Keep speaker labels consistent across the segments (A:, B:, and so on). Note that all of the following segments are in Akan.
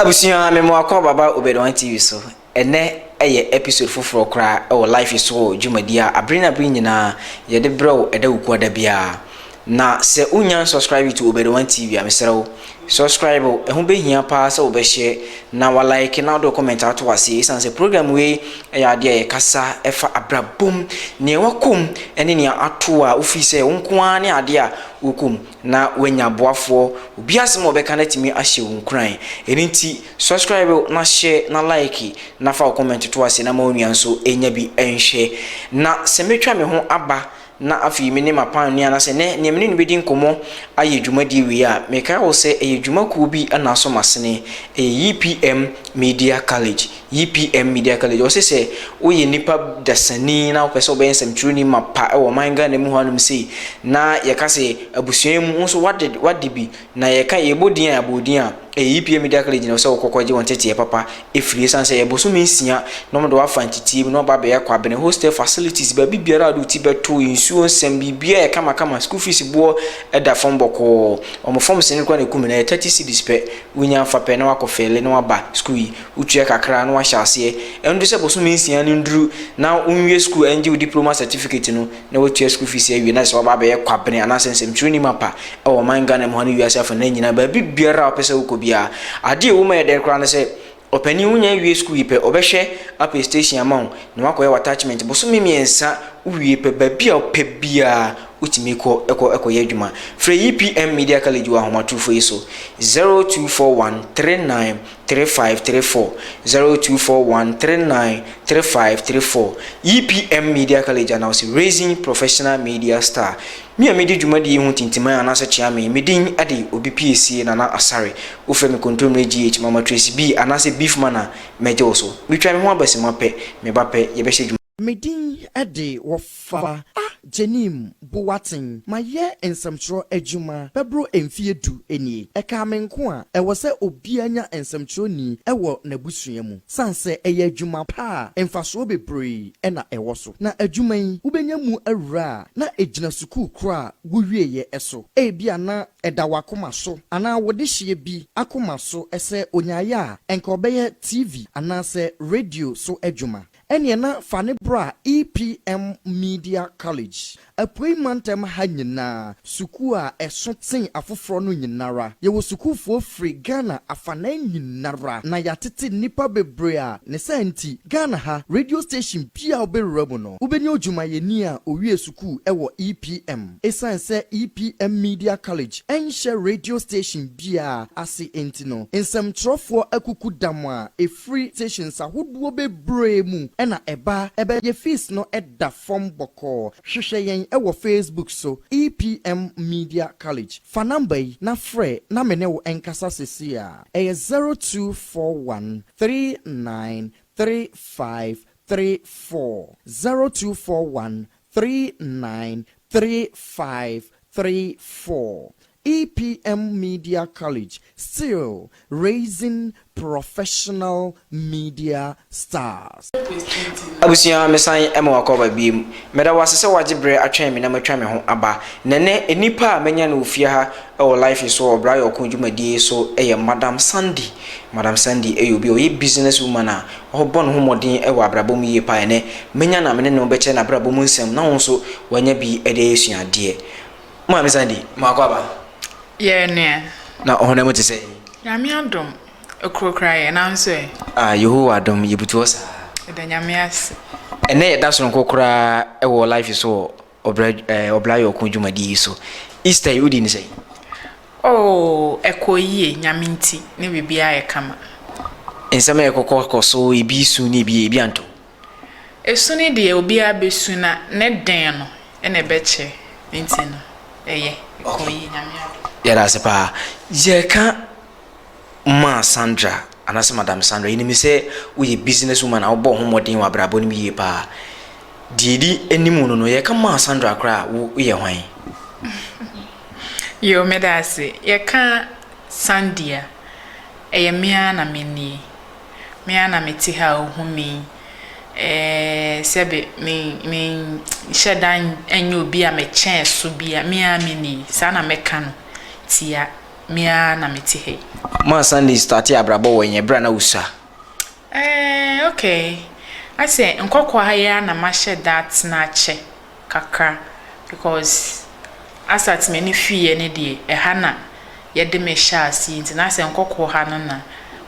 A: abusua me mo akɔ baba obedwan tv so ɛnɛ ɛyɛ episode foforɔ koraa ɛwɔ life so wɔ dwumadi a abere na abere nyinaa yɛde brɛw ɛda wukuada biara Na sɛ wo nya nsɔscribe to obed one tv a mesrɛ wo sɔscribe o ɛho bɛhia paa sɛ wobɛhyɛ na wa like na wode comment ato waseɛ ɛsiane sɛ program wei ɛyɛ adeɛ a yɛkasa ɛfa abrabom nea wakɔm ɛne nea ato a wofii sɛ wo nko ara ne adeɛ a wokɔm na wanya aboafoɔ obi asɛm a wɔbɛka no atumi ahyɛ wo nkuran ɛno nti sɔscribe o na hyɛ na like na fa wo comment to aseɛ na ma onua nso ɛnya bi ɛnhwɛ na sɛ metwa me ho aba na afei me ne m'apamni anaasɛ nɛ nea me ne no bɛdi nkɔmmɔ ayɛ dwumadie wei a, mekae wo sɛ ɛyɛ dwumakuo bi na aso masene. Ɛyɛ YPM Media College, YPM Media College. Wɔse sɛ woyɛ nipa dasani na wopɛ sɛ wobɛyɛ nsɛmtwerɛni mapa wɔ ɔman Ghana mu hɔ anom sei, na yɛka sɛ abusua yi mu wo nso wade wade bi Na yɛka yɛbɔ din a yɛabɔ din a, ɛyɛ EPA Media Clinic gyina hɔ sɛ wokɔ kɔgye wo nteteɛ papa firi ɛsiane sɛ ɛyɛ bosome nsia na wɔde wo afa nteteɛ mu na waba abɛyɛ kwabene, hostel facilities, baabi biara a wɔde wo ti bɛto, nsuo nsɛm, biribiara yɛ kama kama, school fees boɔ da fam bɔkɔɔ, wɔn fam sini koraa na ɛkum no, ɛyɛ thirty cedis pɛ, wonya afa pɛ na wakɔ fɛle na waba school yi, wotua kakra na wahyɛ aseɛ, ɛnto sɛ bosome nsia no nnuru na wonwie school ɛngye wo diploma certificate no. na watua school fees awie na sɛ waba abɛyɛ kwabene anaasɛ nsɛmtwerɛni mapa wɔ ɔman Ghana mu ha ne wiase afa no nyinaa baabi biara a wopɛ sɛ wokɔ biara adeɛ a ɛwɔ mu yɛ dɛn koraa ne sɛ ɔpanin wonya awie school yi pɛ ɔbɛhwɛ apɛ station ama wo na wakɔyɛ wɔ attachment bosome mmiɛnsa wowie pɛ baabi a wopɛ biara wotumi kɔ ɛkɔ ɛkɔyɛ adwuma frɛ EPM Media College wɔ ahomatorofo yi so 0241 39 three five three four zero two four one three nine three five three four EPM Media College Announce Raising Professional Media Star Me a medi dwumadi yi ho tintiman anaasɛ kyeame me din de Obi Piesie Nana Asare Wofrɛ me Kontommire GH Mama Tracy Bee anaasɛ Beef Man a mɛgye wo so Metwa me ho aba simma pɛ me ba pɛ yɛbɛhyɛ dwuma Me din de wɔfa a Jenim Boateng mayɛ nsɛmtwerɛ adwuma bɛboro mfeɛ du nie. Ɛkaa me nko a, ɛwɔ sɛ obiara nya nsɛmtwerɛni wɔ n'abusua mu. Sane sɛ ɛyɛ adwuma pa a, mfasoɔ bebree na ɛwɔ so. Na adwuma yi, wobɛnya mu awura a, na ɛgyina sukuu korɔ a wowieeɛ so. Ebia na ɛda w'akoma so anaa wo dehyeɛ bi akoma so sɛ ɔnyaeɛ a, anka ɔbɛyɛ TV anaasɛ radio so adwuma. Ɛneɛ na fa no bra EPM Media College, Apuei Mantam ha nyinaa, sukuu a ɛso tsen afoforɔ no nyinara. Yɛwɔ sukuufoɔ firi Ghana afanan nyinara na yɛatete nnipa bebree a ne saa nti Ghana ha radio station biaa a wobɛwura mu no wobɛnya odwumayɛni a owiee sukuu wɔ EPM. Ɛsiane sɛ EPM Media College nhyɛ radio station biaa ase nti no nsɛmtwerɛfoɔ akuku dam a Firi stations ahodoɔ bebree mu na ɛba. Ɛbɛyɛ fees no da fam bɔkɔɔ. Hwehwɛ yɛn wɔ Facebook so, EPM Media College. Fa number yi na frɛ na me ne wo nkasa seesei ara. Ɛyɛ zero two four one three nine three five three four, zero two four one three nine three five three four EPM Media College still raising professional media stars. Abusua, mesan ma wakɔ aba biem. Meda wo ase sɛ wagye berɛ atwɛn me na matwa me ho aba. Na ɛnnɛ, nnipa a manya no wɔ fie ha wɔ Life so wɔ Ɔbra Yɛ Ɔko dwumadie so yɛ Madam Sandy. Madam Sandy yɛ obi a ɔyɛ business woman a ɔbɔ ne ho mmɔden wɔ abrabɔ mu yie paa. Ɛnnɛ, mɛnya na me ne no bɛkyɛ n'abrabɔ mu nsɛm na wo nso wanya bi de ayɛ suadeɛ. Maame Sandy, maako aba. Yɛɛ nea. Na ɔhonam mu te sɛ. Nyame adom, ɛkorokora yɛ, nanso ɛ. Ah, Yehowa adom, yɛbutu hɔ saa. Yɛda Nyame ase. Ɛnnɛ yɛda sononko koraa wɔ life so wɔ. ɔbra ɛɛ ɔbra yɔko dwumadie yi so. Easter yi wodi ne sɛn? Oh, ɛkɔ yie, Nyame nti, ne biribiara yɛ kama. Nsɛm a ɛkɔkɔ kɔ so, ebi su na ebi ebi anto. Esu no deɛ obiara bɛsu na ne den no ɛna ɛbɛkyɛ nti no ɛyɛ ɛkɔ yie Nyame adom. Yɛda ase paa. Yɛka. maa Sandra, anaasɛ Madam Sandra. Yenim sɛ woyɛ business woman a wobɔ wo ho mmɔden wɔ abrabɔ no mu yie paa. Deɛ ɛdi anim no no, yɛka maa Sandra koraa a, woyɛ hwan? Yoo, meda ase. Yɛka Sandy a, ɛyɛ me ara na me nie. Me ara na mete ha a wohu me yi. Ɛɛ, sɛbe me, menhyɛ da nyɛ obi a mekyɛn so biara, me ara me nie. Saa na mɛka no tia. me ara na mete ha yi. Maa Sunday startee abrabɔ wɔ yɛn bere a na wusua. Eh, okay. Asɛ nkɔkɔɔ ha yi ara na mahyɛ da atena akyɛ kakra because asat m'ani fiiɛ no deɛ ɛha na yɛde me hyɛɛ aseɛ nti na asɛ nkɔkɔɔ ha no na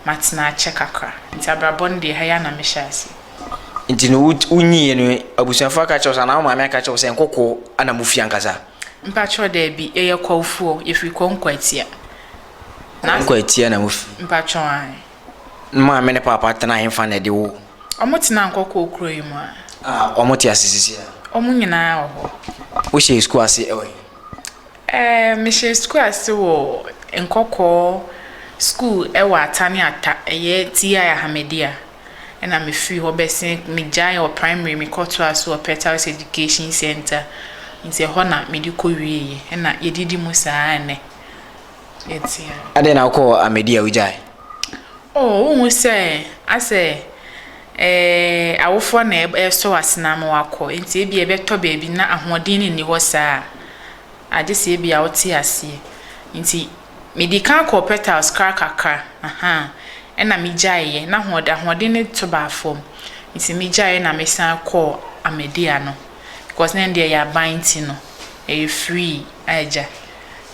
A: matena akyɛ kakra nti abrabɔ no deɛ ɛha yi ara na mehyɛɛ aseɛ. Nti no wonyiiɛ no abusuafoɔ aka akyerɛ wo sɛ anaa wo maame aka akyerɛ wo sɛ nkɔkɔɔ na mofi ankasa? Mpakyɛw daabi yɛyɛ kɔmfoɔ yɛfiri kɔnkɔ atia. Kɔnkɔ atia na mo firi. Mpakyɛw ae. Maame ne paapa tena hefa na ɛde woo. Ɔmo tena nkɔkɔɔ kuro yi mu a. Ah ɔmo te ase sisi a. Ɔmo nyinaa wɔ hɔ. Wo hyɛɛ sukuu ase ɛwɔ he. Ɛɛ me hyɛɛ sukuu ase wɔ nkɔkɔɔ sukuu ɛwɔ ata ne ata ɛyɛ TI Ahamadia. na mefiri hɔ bɛsen megyae wɔ primary mekɔtoaa so wɔ Petals Education Centre nti ɛhɔ na mede kɔwieeɛ ɛna yɛdidi mu saa a ɛnnɛ yɛte ha. Adɛn na wokɔɔ Ahmadiyya a wogyae? Oh, wohu sɛ asɛ eh, awofoɔ na ɛsɔ w'asena ama wakɔ nti ebi ɛbɛtɔ baabi na ahoɔden no nni hɔ saa a agye sɛ ebi a wote aseɛ nti Mede kan kɔɔ petals kra kakra ahaa ɛna me gyaeɛ na ahoɔden ahoɔden no to baa fam nti me gyaeɛ na me san kɔɔ Ahmadiyya no because na ɛno deɛ ɛyɛ aban nti no ɛyɛ free a agya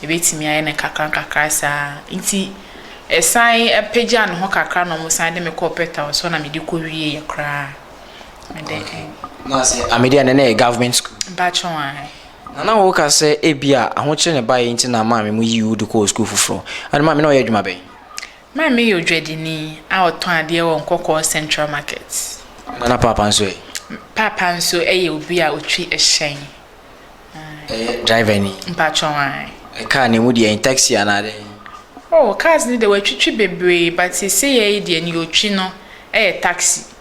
A: yɛbɛtumi ayɛ no kakra nkakra saa nti ɛsan apagya ne ho kakra na wɔn san de me kɔɔ petals hɔ na mede kɔ wie yɛ koraa mede ɛn. Na sɛ Ahmadiyya no na ɛyɛ government school. Mpakyɛw ae. Nana wo ka sɛ ebia ahokyere na ɛbaeɛ nti na maame mo yii wo de kɔɔ sukuu foforɔ. Ɛnna maame na ɔyɛ adwuma bɛn? Maame yɛ odwadini a ɔtɔn adeɛ wɔ Nkɔkɔɔ Central Market. Ɛnna na paapa nso ɛ? Paapa nso yɛ obi a ɔtwi hyɛn. Ɛyɛ driver ni? Mpakyɛ ae. Ɛkaa ne mu deɛ ɛn taxi anaa dɛn? Oh, cars no deɛ watwitwi bebree but seesei yɛ yi deɛ nea ɔtwi no yɛ taxi.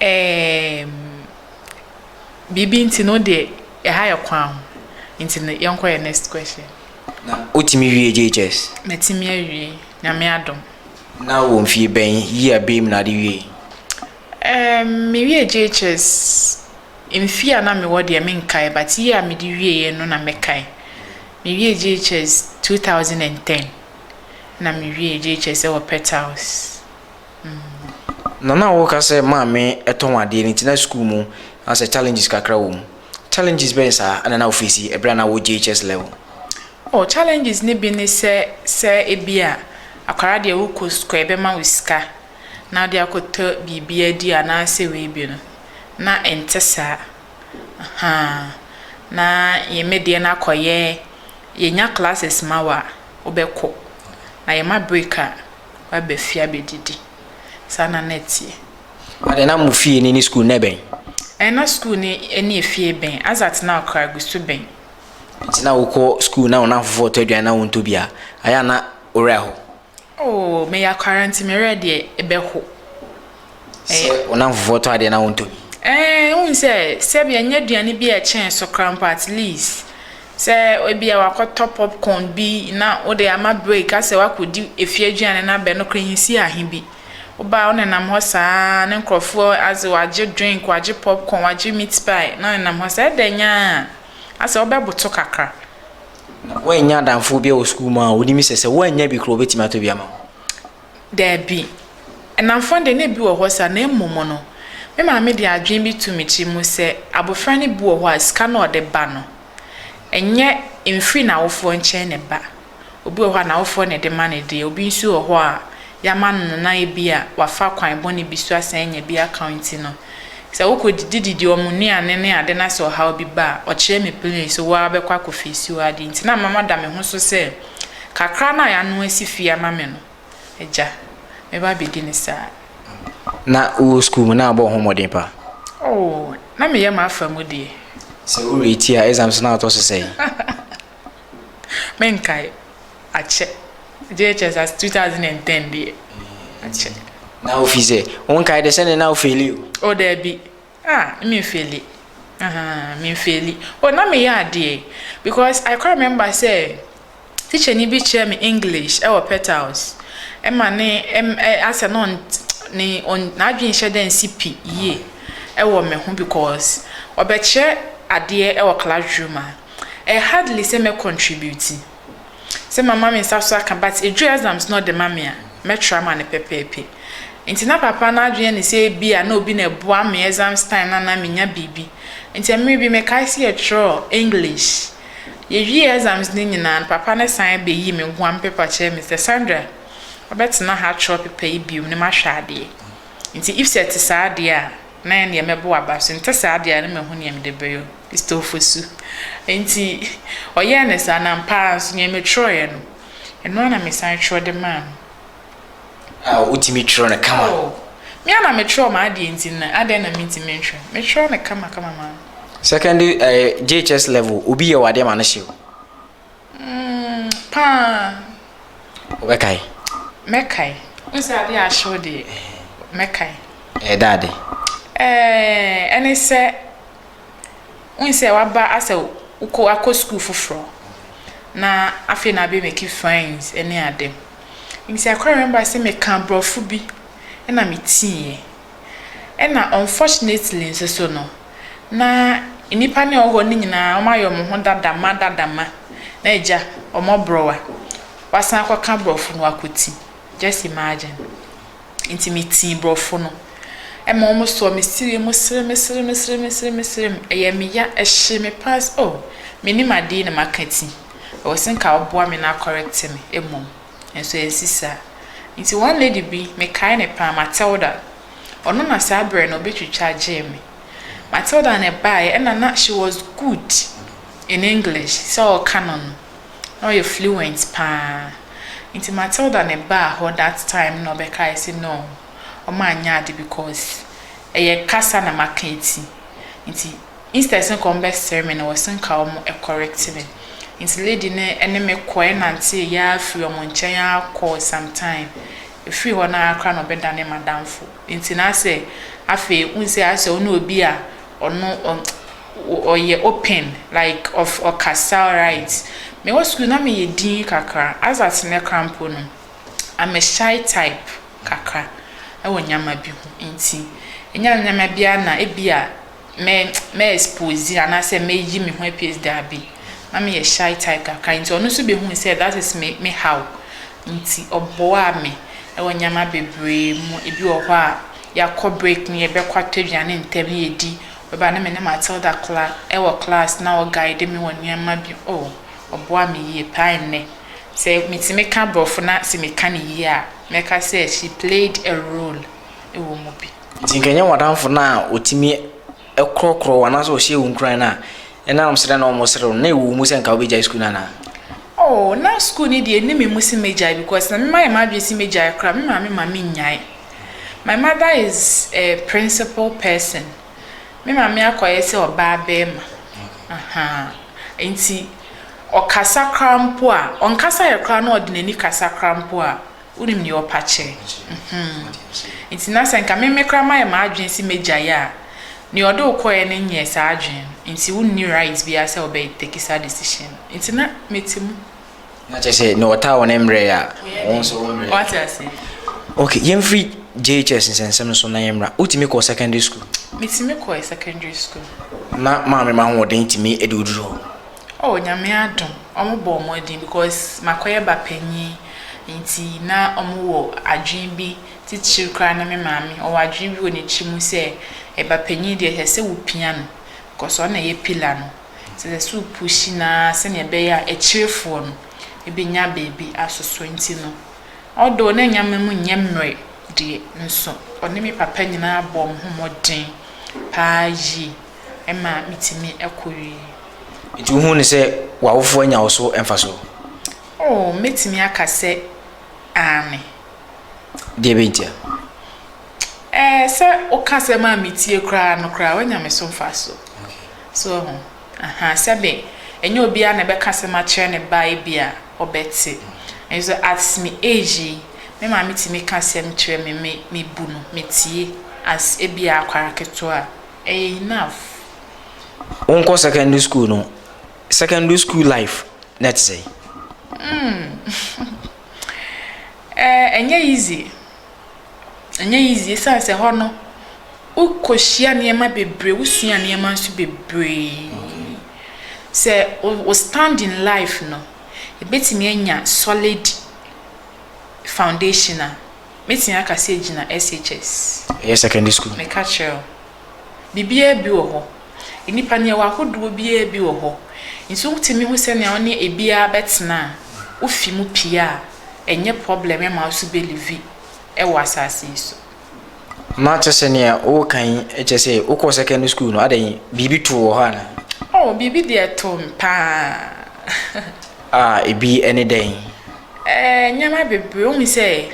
A: Eeemm biribi nti no deɛ ɛha yɛ kwan ho nti no yɛnkɔ yɛn next question. Na wotumi wie JHS? Matumi awie, Nyame adom. Na wowɔ mfie bɛn, year bɛn mu na ade wiei? Eemm me wie JHS, mfie a na mewɔ deɛ menkae but year a mede wieɛ no na mɛkae. Me wie JHS two thousand and ten na me wie JHS ɛwɔ Pet House. Nana a woka sɛ maame tɔn adeɛ no nti na sukuu mu asɛ challenges kakra wɔ mu. Challenges bɛn saa ɛna na wofeesi ɛberɛ a na wɔ JHS level? Oh challenges no bi ne sɛ sɛ ebi a akwadaa deɛ wokɔ sukuu a yɛbɛma wo sika na wode akɔtɔ biribi adi anaasɛ wei bi no na ɛnte saa ahaa na yɛn me deɛ no akɔyɛ yɛnya classes ma wo a wobɛkɔ na yɛma break a waba fie abɛdidi. Saa na na ɛteɛ. Adɛn, na mo fie no ne sukuu no na ɛbɛn? Ɛɛ, na sukuu no ne efie bɛn. Azat na ɔkra gu so bɛn. Nti na wokɔ sukuu na wo nnamfofoɔ tɔ aduane na wontɔ bi a, ayɛ a na wo werɛ aho? Oo, meyɛ akwara nti me werɛ deɛ ɛbɛho. Sɛ wo nnamfo foforɔ tɔ adeɛ na wontɔ bi. Ɛɛ, wohu sɛ sɛbi ɛnyɛ aduane bi a ɛkyɛn so koraa mpo at least sɛ ebia wakɔtɔ popcorn bi na wode ama break asɛ wakɔdi efie aduane no abɛn no koraa ɛnsi ahe bi. Woba a wonenam hɔ saa ara ne nkurɔfoɔ adze wagye drink, wagye popcorn, wagye meat pie na wonenam hɔ saa ara ɛdɛ nyaa asɛ wobɛboto kakra. Na woannya adamfoɔ bi wɔ sukuu mu a wonim sɛ sɛ woannya bi koraa wɔbɛtumi atɔ bi ama wo? Dabi. Nnamfo de, na ebi wɔ hɔ saa, na mmom no, me maame de adwene bi too me tirim sɛ abofra no bi wɔ hɔ a sika no a ɔde ba no, ɛnyɛ mfiri n'awofoɔ nkyɛn na ɛba. Obi wɔ hɔ a, n'awofoɔ na ɛde ma no deɛ, obi nso wɔ hɔ a, yɛama no no na ebia wafa kwan bɔne bi so asan anya bi aka nti no, sɛ wokɔdidi didi wɔn nnuane ne ade na sɛ ɔhaw bi ba a, ɔkyerɛ me plain sɛ wo ara bɛkɔ akɔfeesi wo adeɛ nti na mama da me ho so sɛ, Kakra no a yɛano asi fie ama me no, Agya, mɛba abɛdi no saa. Ná wowɔ sukuu mu, na abɔ wo ho mmɔden pa? Oo, na meyɛ m'afa mu deɛ. Sɛ woreti a, exams no na wotɔ so sɛn? Menkae. Akyɛ. JHS as 2010 deɛ, akyɛ. Na wofii sɛ, wonkae dɛ sɛdeɛ na wofeeli o? O, daabi. Ah me nfeeli ahaa me nfeeli oh na me yɛ adeɛ because I quite remember sɛ teacher ni bi kyerɛ me English ɛwɔ petals ɛma ne ɛm ɛ asɛ na ɔn ne ɔn n'adwene nhyɛ dɛ nsi pi yie ɛwɔ me ho because ɔbɛkyerɛ adeɛ ɛwɔ classroom a ɛ hardly sɛ mɛ contribute. Sɛ mama me nsa so aka but eduru exams na ɔde ma me a, mɛtra ma no pɛpɛɛpɛ. Nti na papa no adwene ne sɛ ebia na obi na ɛboa me exams time no a na menya biribi. Nti mmere bi mekae sɛ yɛtwerɛɛ English. Yɛwiee exams no nyinaa no, papa no san bɛyii me guam paper kyerɛɛ me sɛ, Sandra, wobɛtena ha atwerɛ paper yi bio na mahwɛ adeɛ. Nti if sɛ ɛte saa deɛ a, na yɛ deɛ mɛbɔ aba so ntɛ saa deɛ na mahu neɛ mede bɛyɔ Kristofo su nti ɔyɛɛ no saa na ampa ara nso neɛ metwerɛeɛ no ɛno ara na mesan twerɛ de maa no. A wotumi twerɛ no kama? Oh, me a na metwerɛ m'adeɛ nti na adɛn na mentumi ntwerɛ metwerɛ no kama kama maa no. Secondary eh, JHS level obi yɛ wɔ adeɛ ma no hyew. Mm, paa. Wobɛkae? Mɛkae. N sɛ adeɛ ahyew deɛ, mɛkae. Ɛyɛ da ade? Ɛɛ, ɛne sɛ, wohu sɛ waba asɛ wokɔ akɔ sukuu foforɔ na afei na abɛmaki friends ne ade. Nti I quite remember sɛ meka aborɔfo bi na metiiɛ. Ɛna unfortunately nso so no, na nnipa no a wɔwɔ hɔ no nyinaa wɔayɛ wɔn ho dada ma dada ma, na agya, wɔaborɔw a, wɔasan akɔka borɔfo no wɔakɔti. Just imagine. Nti metii borɔfo no. Ɛma wɔn sɔɔ me siri mu serem serem serem serem serem. Ɛyɛɛ me ya, ɛhyee me paa sɛ oh, mennim ade yi na maka ti. Ɛwɔ sɛ nka wɔboa me na akɔrɛkte me mmom. Nanso ansi saa. Enti one lady bi, mekae no paa, Matilda, ɔno na saa berɛ no ɔbɛtwitwa gyee me. Matilda na ɛbaeɛ, ɛna na she was good in English, sɛ ɔreka no no, na ɔyɛ fluent paa. Enti Matilda na ɛbaa hɔ that time na ɔbɛkae sɛ no, wɔanyɛ ade because ɛyɛ kasa na maka eti. Enti. Instead se nka ɔmo bɛ sere me no wɔ se nka ɔmo correct me nti lady no ne me kɔ ɛnantee yaa firi ɔmo nkyɛn aa kɔɔ some time ɛfiri hɔ no aa koraa na ɔbɛ dane madamfo nti na asɛ afei wohu se asɛ ɔne obi a ɔno ɔyɛ open like ɔf ɔkasa alright me wɔ school na me yɛ dinn kakra as at nnɛ koraa mpo no I'm a shy type kakra ɛwɔ nneɛma bi ho nti ɛnya nneɛma bi a na ɛbi a. mɛ mɛ expose anaasɛ mɛyi me ho apies daabi na meyɛ shy type kakra nti ɔno nso bɛhuu sɛ that is me me how nti ɔboaa me ɛwɔ nneɛma bebree mu ebi wɔ hɔ a yɛakɔ break ne yɛbɛkɔ atɔ aduane ntɛm ne yɛdi ɔbɛba ne me ne Matilda kla ɛwɔ class na ɔguide me wɔ nneɛma bi oh ɔboaa me yie paa nnɛ sɛ metumi ka borɔfo na sɛ meka ne yie a mɛka sɛ she played a role ɛwɔ mu bi. Ntsi nka enye w'adamfo no a otumi korɔkorɔ wo anaasɛ ɔhyɛ wo nkuran no a, nna ɔnam serɛ na wɔserew no, nna ewɔ wo mu sɛ nka wobegyae skuul no anaa? Oh, na skuul no deɛ enni me mu se megyae because na memayɛ m'adwene se megyae koraa a, me maame mma minnyae. My mother is a principle person. Me maame akɔyɛ sɛ ɔbaa barima. Uh-huh. Ntsi, ɔkasa koraa mpo a, ɔnkasaeɛ koraa na ɔde n'ani kasa koraa mpo a, Wonim nea ɔpa kyɛ. Mhmm. Nti na sɛ nka me me koraa mayɛ m'adwene se mɛgyae a, nea ɔde wo kɔeɛ no nyɛɛ saa adwene no, nti wonni right biara sɛ wobɛ take saa decision no. Nti na mete mu. Na kyerɛ sɛ nea ɔtaa wo no mmrɛɛ a, wo nso wommrɛ. Wate aseɛ? Okay, yɛmfiri JHS nsɛnsɛm no so na yɛmmra. Wotumi kɔɔ secondary school? Metumi kɔɔ secondary school. Na maame ma ahoɔden tumi de wo duru hɔ? Oh Nyame adom ɔmo bɔɔ mmɔden because makɔyɛ ba panyin nti na ɔmo wɔ adwene bi titire koraa ne me maame ɔwɔ adwene bi wɔ ne tiri mu sɛ ba panyin deɛ ɛsɛ sɛ wo pia no because ɔno na ɛyɛ pillar no nti ɛsɛ sɛ wo pushi no ara sɛdeɛ ɛbɛyɛ a akyirefoɔ no bɛnya baabi asoso nti no although na nneɛma mu nyɛ mmerɛ deɛ nso ɔne me papa nyinaa bɔɔ ɔmo ho mmɔden paa yie. ɛma mitumi kɔ wie. Enti wuhu no sɛ w'awofo anya wo so mfaso? Oo, mɛtumi aka sɛ aane. Deɛ bɛn ntia? Ɛɛ, sɛ woka asɛm a metie koraa no koraa, woanya me so mfaso. So woahu? Aha, sɛbe ɛnyɛ obiara na ɛbɛka asɛm akyerɛ ne ba ebi a ɔbɛte. Nanso at me age yi, me maame tumi ka asɛm kyerɛ me, me, mebu no, metie as ebi a akwara ketewa a. ɛyɛ enough. Wo nkɔ secondary school no secondary school life na ɛte sɛn. Hmm eh ɛnyɛ easy ɛnyɛ easy esan sɛ hɔ no wo kɔ hyia nneɛma bebree wo sua nneɛma nso bebree sɛ wo stand in life no ebetumi anya solid foundation a Mɛtumi aka sɛ gyina SHS. Ɛyɛ secondary school. Meka kyerɛɛ wo. Biribiara bi wɔ hɔ. Nnipa no, yɛwɔ ahodoɔ biara bi wɔ hɔ. Nti wotumi hu sɛnea wo ne ebiara bɛtena a, wofi mu pie a, ɛnyɛ problem ma wo so bɛ livi wɔ asase yi so. Mate sɛnea woreka yi, kyerɛ sɛ wokɔɔ secondary school no, adɛn, biribi too wɔ hɔ anaa? Oh, biribi deɛ too me paa. Ah, ebi ne dɛn? Ɛɛ, nneɛma bebree. Wohu sɛ,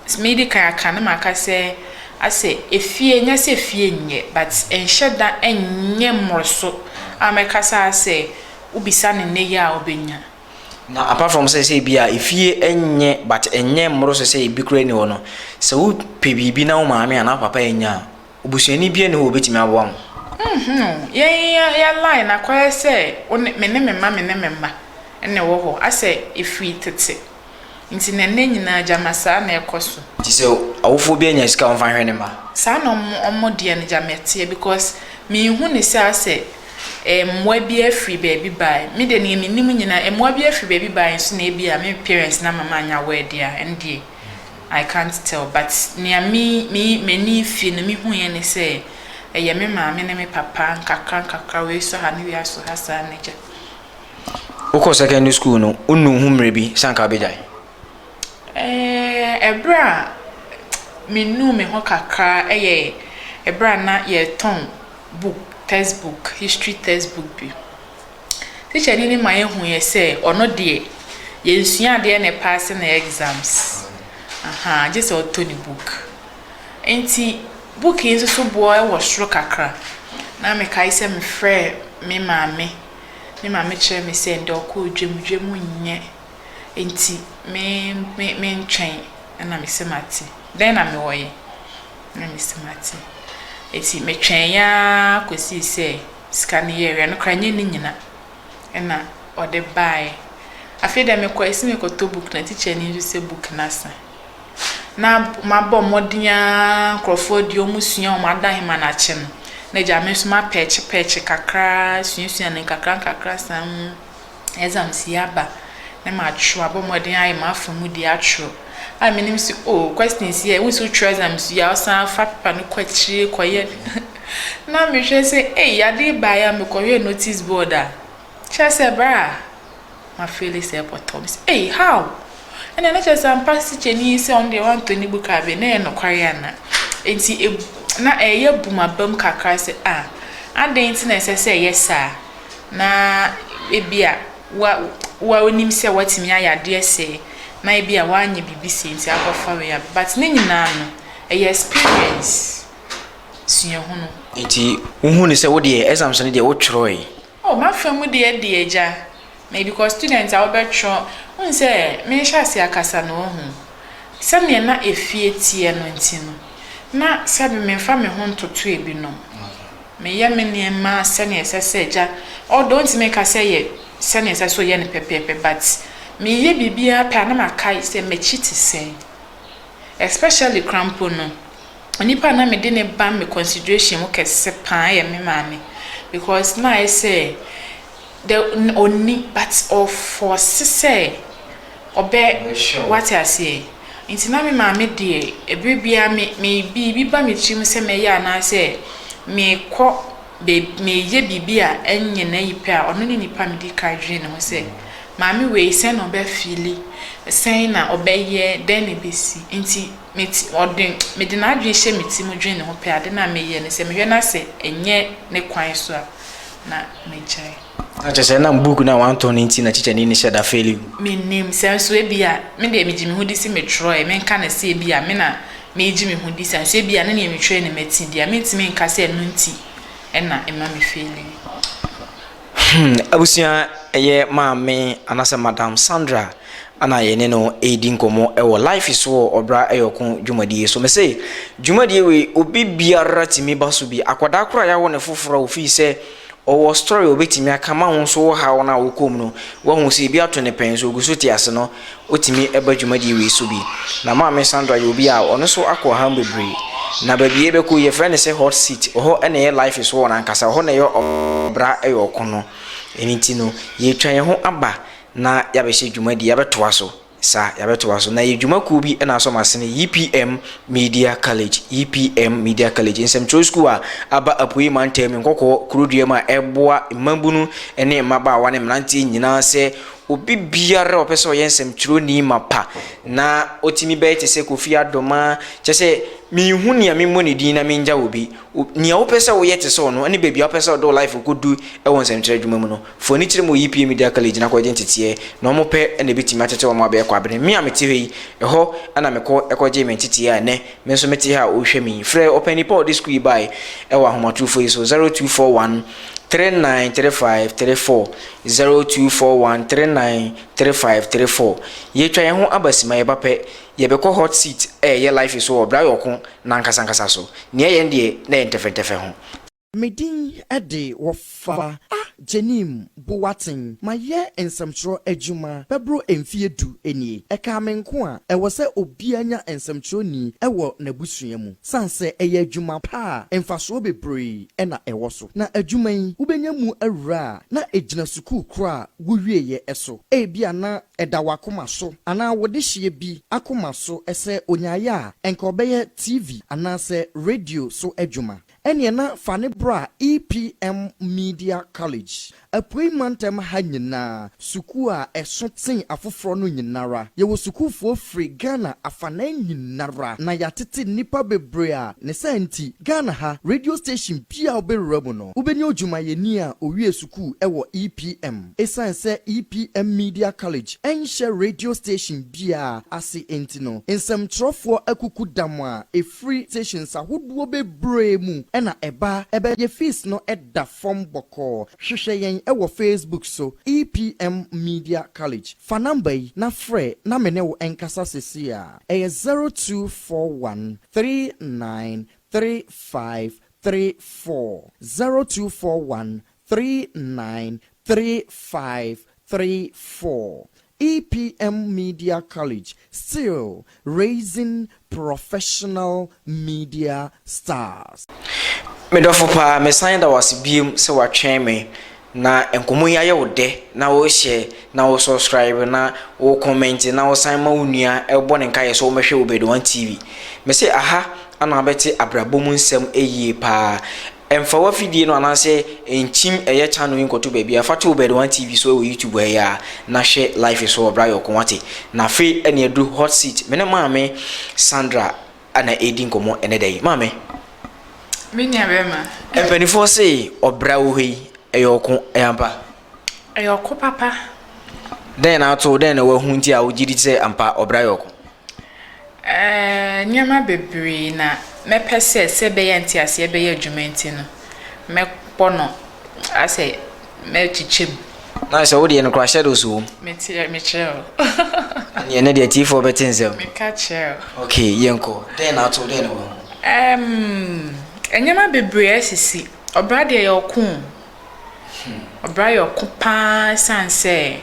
A: sɛ medi kan aka na maka sɛ, asɛ efie, nyɛ sɛ efie nyɛ, but ɛnhyɛ da nyɛ mmoroso a mɛka saa sɛ wobisa no nnɛ yi a obenya. Na apart from sɛ sɛ ebi a efie nyɛ but ɛnyɛ mmoroso sɛ ebi koraa nni hɔ no, sɛ wopɛ biribi na wo maame anaa wo papa annya a, Obusuani biara nni hɔ a obetumi aboa mo. Nhuu, yɛn yɛn line akɔyɛ sɛ wo ne, me ne me mma, me ne me mma na ɛwɔ hɔ, asɛ efiri tete nti na nnɛ nyinaa gyama saa na ɛkɔ so. Nti sɛ awofoɔ bi anya sika a wɔmfa nhwɛ ne mma? Saa na wɔn wɔn deɛ no gyama ɛteɛ because menhu ne sɛ asɛ eh mmoa bi afiri baabi baeɛ, me deɛ nea menim nyinaa mmoa bi afiri baabi baeɛ nso na ebia me parents no ama manya word a ɛndeɛ. I can't tell but nea me me m'ani fii no mehuiɛ ne sɛ ɛyɛ me maame ne me papa nkakra nkakra wei sɔ ha ne wei asɔ ha saa ne gya. Wokɔ secondary school no wonu ho mmerɛ bi sɛ anka wobɛgyae? Ɛɛ ɛberɛ a menuu me ho kakra ɛyɛ ɛberɛ a na yɛretɔn book textbook history textbook bi. Tikyani no ma yɛhu yɛ sɛ ɔno deɛ yɛnsua adeɛ na ɛpaase ne exams. Aha, gye sɛ ɔtɔ ne book. Nti book yi nso so boɔ wɔ soro kakra. Na mekae sɛ mefrɛɛ me maame. Me maame kyerɛ me sɛ ndɛ ɔkɔɔ dwam, dwam nyɛ. Nti me me mentwɛn na mese mate. Dɛn na mewɔ yɛ? Na mese mate. Nti metwɛn ara kɔsii sɛ. sika no yɛeɛ no koraa nyɛ ne nyina na ɔde baeɛ. Afei deɛ mekɔɔ ɛsɛ mekɔtɔ book na teacher no nso sɛ book no asa. Na mabɔ mmɔden ara nkurɔfoɔ deɛ wɔsua wɔn ada hema no akyɛ no na gya me nso mapɛɛkyepɛɛkye kakra ara suasua no nkakra nkakra saa mu. exams yi aba na matwerɛ, abɔ mmɔden ayɛ m'afa mu deɛ atwerɛ a menim sɛ o oh, questions yɛ wo sɛ wotwerɛ exams yi a wosan fa pepa no kɔ akyire kɔyɛ na mehwɛ sɛ ei adeɛ baeɛ a mekɔhwɛ notice board a kyerɛ sɛ berɛ a mafeele sɛ pɔtɔ me sɛ ei how ɛna na kyerɛ sɛ ampa sikyɛni sɛ ɔno deɛ wantɔ ne book a bɛ na ɛyɛ nokware ana nti na ɛyɛ bumabam kakra sɛ a ah, adɛn nti na ɛsɛ sɛ ɛyɛ saa na ebia wa woa wonim sɛ woatumi ayɛ adeɛ sɛɛ na ebia woanyɛ biribi sei nti akɔfa wei aba but ne nyinaa no ɛyɛ experience suahunu. Nti wohu no sɛ wodeɛ exams no deɛ wotwerɛe? Oh m'afa mu deɛ deɛ agya me because student a wobɛtwerɛ wohu sɛ mehyɛ ase akasa no wohu sɛdeɛ na efie teɛ no nti no na sɛbe memfa me ho ntoto ebinom Meyɛ me nneɛma sɛnea ɛsɛ sɛ agya, although ntumi nka sɛ ɛyɛ sɛnea ɛsɛ sɛ ɔyɛ no pɛpɛɛpɛ but meyɛ biribiara pɛ a na makae sɛ m'akyi te sɛn. Especially koraa mpo no, onipa a na mede no ba me consideration mu kɛse paa yɛ me maame because na ayɛ sɛ The na ɔnni but ɔfɔɔse sɛ ɔbɛ wate aseɛ nti na me maame deɛ ɛberɛ biara me me biribi ba me tirim sɛ mɛyɛ anaasɛ mekɔ baabi meyɛ biribi a ɛnyɛ n'ayi pɛ a ɔno ne nipa medi kan dwene ne ho sɛ maame wei sɛn na ɔbɛ fili sɛn na ɔbɛyɛ dɛn na ɛbɛsi nti me ti, ɔde, mede n'adwene hyɛ me ti mu dwene ne ho pɛ a, ade no a meyɛ no, sɛ mehwɛ na sɛ ɛnyɛ ne kwan so a, na megyae. Na kyerɛ sɛ ɛnam buuku no a wɔantɔn no nti na tikyani no hyɛ da feeli no? Mennim. Sɛ nso ebia, me deɛ megye me ho di se metwerɛeɛ, menka no sɛ ebia me na meregye me ho di, sɛ nso ebia ne deɛ metwerɛeɛ na mati deɛ a, mentumi nka sɛ ɛno nti na ɛma mefeeli. Hmm, abusua, ɛyɛ maame anaasɛ Madam Sandra ana yɛne no ɛredi nkɔmmɔ ɛwɔ life so wɔ ɔbra ɛyɛ ɔko dwumadie so. Mese dwumadie wei obi biara tumi ba so bi. Akwadaa koraa yɛawo ne foforɔ a ofii sɛ ɔwɔ story obɛtumi aka ma wo nso wo haw no a wokɔ mu no wahu sɛ ebi ato ne pɛn so ogu so te ase no Otumi ba dwumadi wei so bi. Na Maame Sandra yɛ obi a ɔno nso akɔ ɔhaw mu bebree. Na baabi a yɛbɛkɔ yi, yɛfrɛ no sɛ Hot Seat. Ɛhɔ na ɛyɛ life so wɔ no ankasa. Ɛhɔ na ɛyɛ ɔbra yɛ ɔko no. Ɛno nti no, yɛretwa yɛn ho aba na yɛabɛhyɛ dwumadi, yɛabɛtoa so. Sa, yɛabɛtoa so. Na yɛ dwumakuo bi na asɔ m'asene, YPM Media College, YPM Media College, nsɛmtwerɛ sukuu a aba Apuei Mantam, Nkɔkɔɔ Kurodua mu a ɛboa mmabunu ne mmabaawa ne mmeranteɛ nyinaa sɛ Obi biara a ɔpɛ sɛ ɔyɛ nsɛmtwerɛni mapa na ɔtumi bɛyɛ te sɛ Kofi Adoma, kyerɛ sɛ menhu nea memmɔ ne din na mengya obi. Nea wopɛ sɛ woyɛ te sɛ ɔno ne baabi a wopɛ sɛ wode wo life kɔdu wɔ nsɛmtwerɛ adwuma mu no, fa w'ani kyerɛ ma wɔ EPA Media College na kɔgye nteteɛ na wɔpɛ na ɛbɛtumi akyekye wɔn abɛyɛ Kwabena. Me a mete hɔ yi, ɛhɔ na mekɔ kɔgyee me nteteɛ a ɛnnɛ Me nso mete ha a ɔrehwɛ me yi. Frɛ Ɔpanyin pa a ɔde sukuu yi bae wɔ ahomatorofo yi so, 0241 393534, 0241 393534. Yɛatwa yɛn ho aba simma, yɛba pɛ, yɛbɛkɔ hot seat a ɛyɛ life so wɔ Braayɔko no ankasankasa so. Nea ɛyɛ no deɛ, na ɛyɛ ntɛfɛntɛfɛ ho. Me din de wɔfa a Jenim Boateng. Mayɛ nsɛmtwerɛ adwuma bɛboro mfeɛ du nie. Ɛkaa me nko a, ɛwɔ sɛ obiara nya nsɛmtwerɛni wɔ n'abusua mu. Sane sɛ ɛyɛ adwuma pa a, mfasoɔ bebree na ɛwɔ so. Na adwuma yi, wobɛnya mu awura a, na ɛgyina sukuu korɔ a wowieeɛ so. Ebia na ɛda w'akoma so anaa wo dehyeɛ bi akoma so sɛ ɔnyaeɛ a, anka ɔbɛyɛ TV anaasɛ radio so adwuma. Ɛnneɛ na fa no bra EPM Media College, Apuei Mantam ha nyinaa, sukuu a ɛso tsen afoforɔ no nyinara. Yɛwɔ sukuufoɔ firi Ghana afanan nyinara, na yɛatete nnipa bebree a ne saa nti, Ghana ha, radio station biara a wobɛwura mu no, wobɛnya odwumayɛni a owiee sukuu wɔ EPM. Ɛsiane sɛ EPM Media College nhyɛ radio station biara ase nti no, nsɛmtwerɛfoɔ akuku dam a ɛfiri. Firi stations ahodoɔ bebree mu na ɛba. Ɛbɛyɛ fees no da fam bɔkɔɔ. Hwehwɛ yɛn wɔ Facebook so, EPM Media College. Fa number yi na frɛ na me ne wo nkasa seesei ara. Ɛyɛ zero two four one three nine three five three four, zero two four one three nine three five three four EPM Media College still raising professional media stars. Me dɔfo paa, mesan da wo ase biom sɛ woatwɛn me na nkɔmmɔ yi ayɛ wo dɛ na wo share na wo subscribe na wo comment na wo san ma wo nua bɔ ne nkaeɛ sɛ ɔmmɛhwɛ Obed One TV. Mese aha ana wobɛte abrabɔ mu nsɛm yie paa. Mfa w'afidie no anaasɛ nkyim ɛyɛ channel yi nkɔto baabiara, fa to wo Bird One TV so wɔ YouTube ha yi ara na hwɛ live yi so wɔ berɛ a yɛkɔ, wate? Na afei ɛne aduru Hot Seat, me ne Maame Sandra na ɛredi nkɔmmɔ ɛnnɛ da yi. Maame. Me nuabarima. Mpanimfoɔ se ɔbra wɔ hɔ yi, ɛyɛ ɔko, ɛyɛ ampa? Ɛyɛ ɔko papa. Dɛn na ato wo? Dɛn na woahu nti a wogye di sɛ ampa ɔbra yɛ ɔko? Ɛɛ, nneɛma bebree na mɛpɛ sɛ sɛ ɛbɛyɛ a nteaseɛ bɛyɛ adwuma nti no, mɛbɔ no asɛ mɛkyekyɛ mu. Nice, sɛ wo deɛ no kura shadows wom. Mete, mekyerɛ wo. Ɛnneɛ ɛnɛ deɛ atiefoɔ bɛte nsɛm. Meka kyerɛ wo. Okay, yɛnkɔ. Dɛn na ato wo? Dɛn na woahu? Ɛɛm, nneɛma bebree asisi. Ɔbra deɛ ɛyɛ ɔko o. Ɔbra yɛ ɔko pa ara esiane sɛ,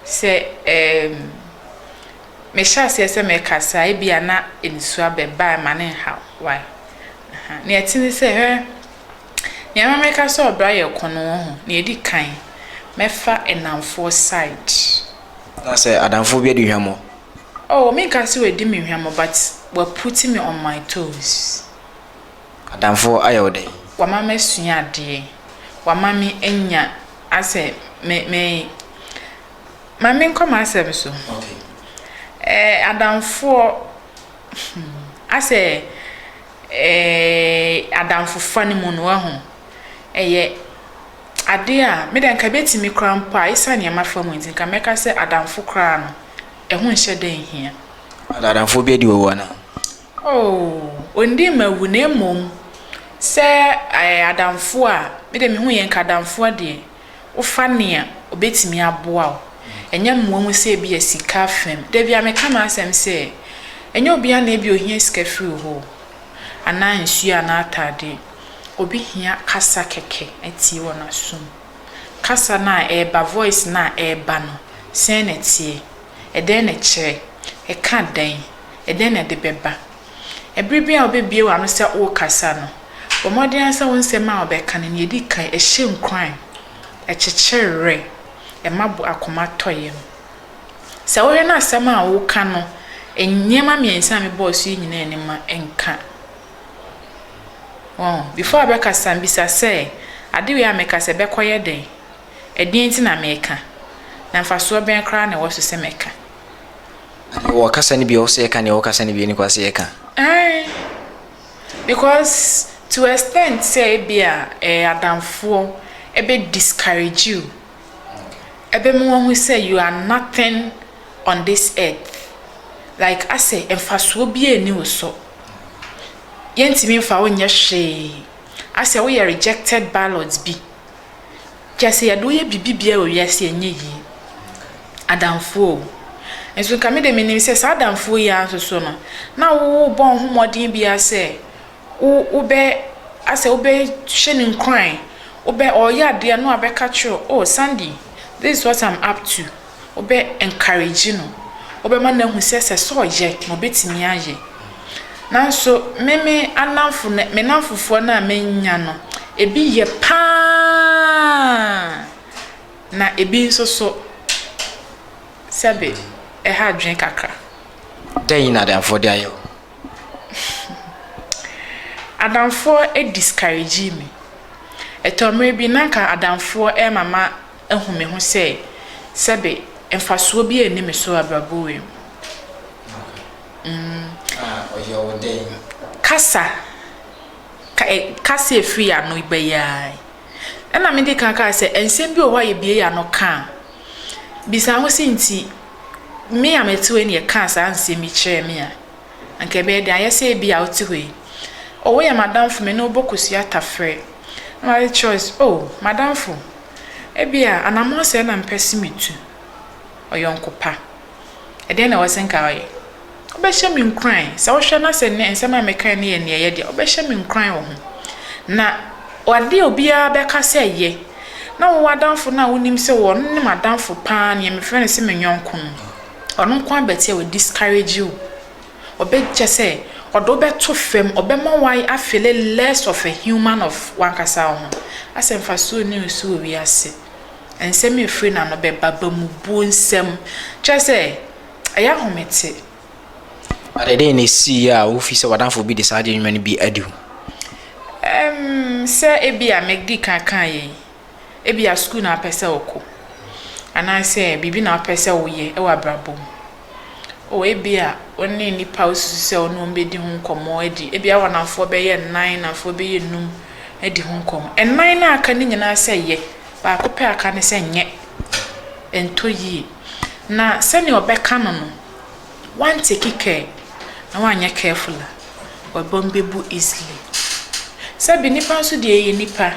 A: sɛ ɛɛm, mehyɛ aseɛ sɛ merekasa a, ebia na nisuo abɛba a ɛma no nhaw. Why? Aha. Nea ɛte ne sɛ, hwɛ, nea ɛma meka sɛ ɔbra yɛ ɔko no, wohu, nea ɛdi kan, mɛfa nnamfoɔ side. Anaasɛ adamfoɔ bi adi hwammɔ? Oh, menka sɛ wadi me hwammɔ, but waputi me on my toes. Adamfo ayɛ wo dɛn? Wama masua adeɛ. Wama me anya asɛ me me Ma me nkɔ m'asɛm so. Okay. Eh, adamfoɔ hmm, asɛ eh, adamfofa no mu no wahu. Ɛyɛ adeɛ a me dɛ nka bɛtumi koraa mpo a ɛsiane nea mafa mu nti nka mɛka sɛ adamfo koraa no ɛho nhyɛ dɛ nhia. Adamfoɔ bi adi wɔ wo anaa? Oh, onndii me awu na mmom sɛ ɛɛ adamfo a, me deɛ mehu yɛn kadamfoɔ deɛ, wofa nea ɔbɛtumi aboa wo, ɛnyɛ mmoa mu sɛ ebia sika fam. Da biara meka m'asɛm sɛ, ɛnyɛ obiara na ebia ohia sika firi wo hɔ o, anaa nsuo anaa ataadeɛ. Obi hia kasa kɛkɛ atie wɔ n'asom. Kasa no a ɛreba, voice no a ɛreba no, sɛn na ɛteɛ? Ɛdɛn na ɛkyerɛ? Ɛka dɛn? Ɛdɛn na ɛde bɛba? Bere biara a wubebue w'ano sɛ worekasa no, bɔ mmɔden ara sɛ wo nsɛm a wobɛka no, nea edi kan, ɛhyɛ nkuran, ɛkyekyere werɛ, ɛma bo akoma tɔ yam. Sɛ wohwɛ na asɛm a woreka no, nneɛma mmiɛnsa a mebɔɔ so yi nyinaa nni mu a, ɛnka. Wahu? Before wobɛkasa no, bisa sɛ, Ade wei a mereka sɛ, ɛbɛkɔyɛ dɛn? Ɛdeɛn nti na meka? Na mfasoɔ bɛn koraa na ɛwɔ so sɛ mɛka? Wɔ kasa no bi a ɔwɔ sɛ yɛka ne wɔ kasa no bi a ɛni kwan sɛ yɛka? Aane, because to extent sɛ ebia eh, adamfoɔ ɛbɛ discourage you, ɛbɛma wahu sɛ you are nothing on this earth, like asɛ mfasoɔ biara nni wo so, yɛntumi mfa wo nyɛ hwee, asɛ woyɛ rejected ballot bi. Kyɛ sɛ yɛde wo yɛ biribi biara wɔ wiase a ɛnyɛ yie. Adamfoɔ o. Nso nka me deɛ menim sɛ saa adamfoɔ yi ara nso so no, na worebɔ wo ho mmɔden biara sɛ wo wobɛ asɛ wobɛhyɛ no nkuran, wobɛ ɔreyɛ adeɛ a na wabɛka akyerɛ wo, oh Sandy, this is what I'm up to. wobɛ encourage no, wobɛma no ahu sɛ sɛ sɛ ɔyɛ na ɔbɛtumi ayɛ. Nanso me me anamfo no me namfofoɔ no a manya no ebi yɛ pa ara na ebi nso so sɛbe ɛha adwene kakra. Dɛn na adamfoɔ de ayɛ wo? Adamfoɔ discourage me. Ɛtɔ mmerɛ bi na nka adamfoɔ ɛrema ma. ahu me ho sɛ sɛbe mfasoɔ bi nni me so abrabɔ wei mu. Kasa kasa a ɛfiri yɛn ano ba yi ara yi, ɛna mede ka kaa sɛ nsɛm bi wɔ hɔ a yɛbue yɛn ano ka a, bisa wo ho sɛ nti me a mete hɔ yi na yɛkaa saa nsɛm yi kyerɛɛ me a, Anka ɛbɛyɛ den. Ayɛ sɛ ebia wote hɔ yi, Oh, woyɛ m'adamfo, me ne wo bɔ kosua tafere. Na wayɛ choice, Oh, m'adamfo, ebia anammɔn sɛɛ na mepɛ se metu. Ɔyɔnko pa, ɛdeɛn na ɛwɔ se nka ɔyɛ? Wobɛhyɛ me nkuran, sɛ wohwɛ na sɛ nnɛ nsɛm a mekae no yɛ nea ɛyɛ de a, wobɛhyɛ me nkuran wɔ ho. Na adeɛ a obiara bɛka sɛ yɛ, na wo w'adamfo no a wonim sɛ ɔno ne m'adamfo pa ara, nea mefrɛ no se me yɔnko no, Ɔno nko ara bɛtse a oe discourage wo. Ɔbɛ kyɛ sɛ ɔde wo bɛto fam, ɔbɛma wo a feele less of a human of w'ankasa wo ho. Asɛ mfaso nni wo so wɔ wiase. Nsɛm a ɛfiri n'ano bɛba, bamubuo nsɛm. Kyerɛ sɛ, ɛyɛ ahomete. But ɛdeɛn na ɛsiiɛ a wo fi sɛ w'adamfo bi de saa adwene nwuma no bi adi wo? Ɛm, sɛ ebia me di kan kaeɛ yi. Ebia sukuu na wopɛ sɛ wokɔ, anaasɛ biribi na wopɛ sɛ woyɛ wɔ abrabɔ mu. O, ebia wo ne nnipa a wosusu sɛ wo ne wɔn bɛdi ho nkɔmmɔ adi, ebia w'anafoɔ bɛyɛ nnan, nnamfoɔ bɛyɛ nnum adi ho nkɔmmɔ. Nnan no a aka no nyinaa sɛ yɛ, baako pɛ a aka no sɛ nyɛ. Ɛntɔ yie. Na sɛdeɛ wɔbɛka no no, woanteki care, na woanyɛ careful a, w'abam bɛbu easily. Sɛbe nnipa nso deɛ yɛyɛ nnipa.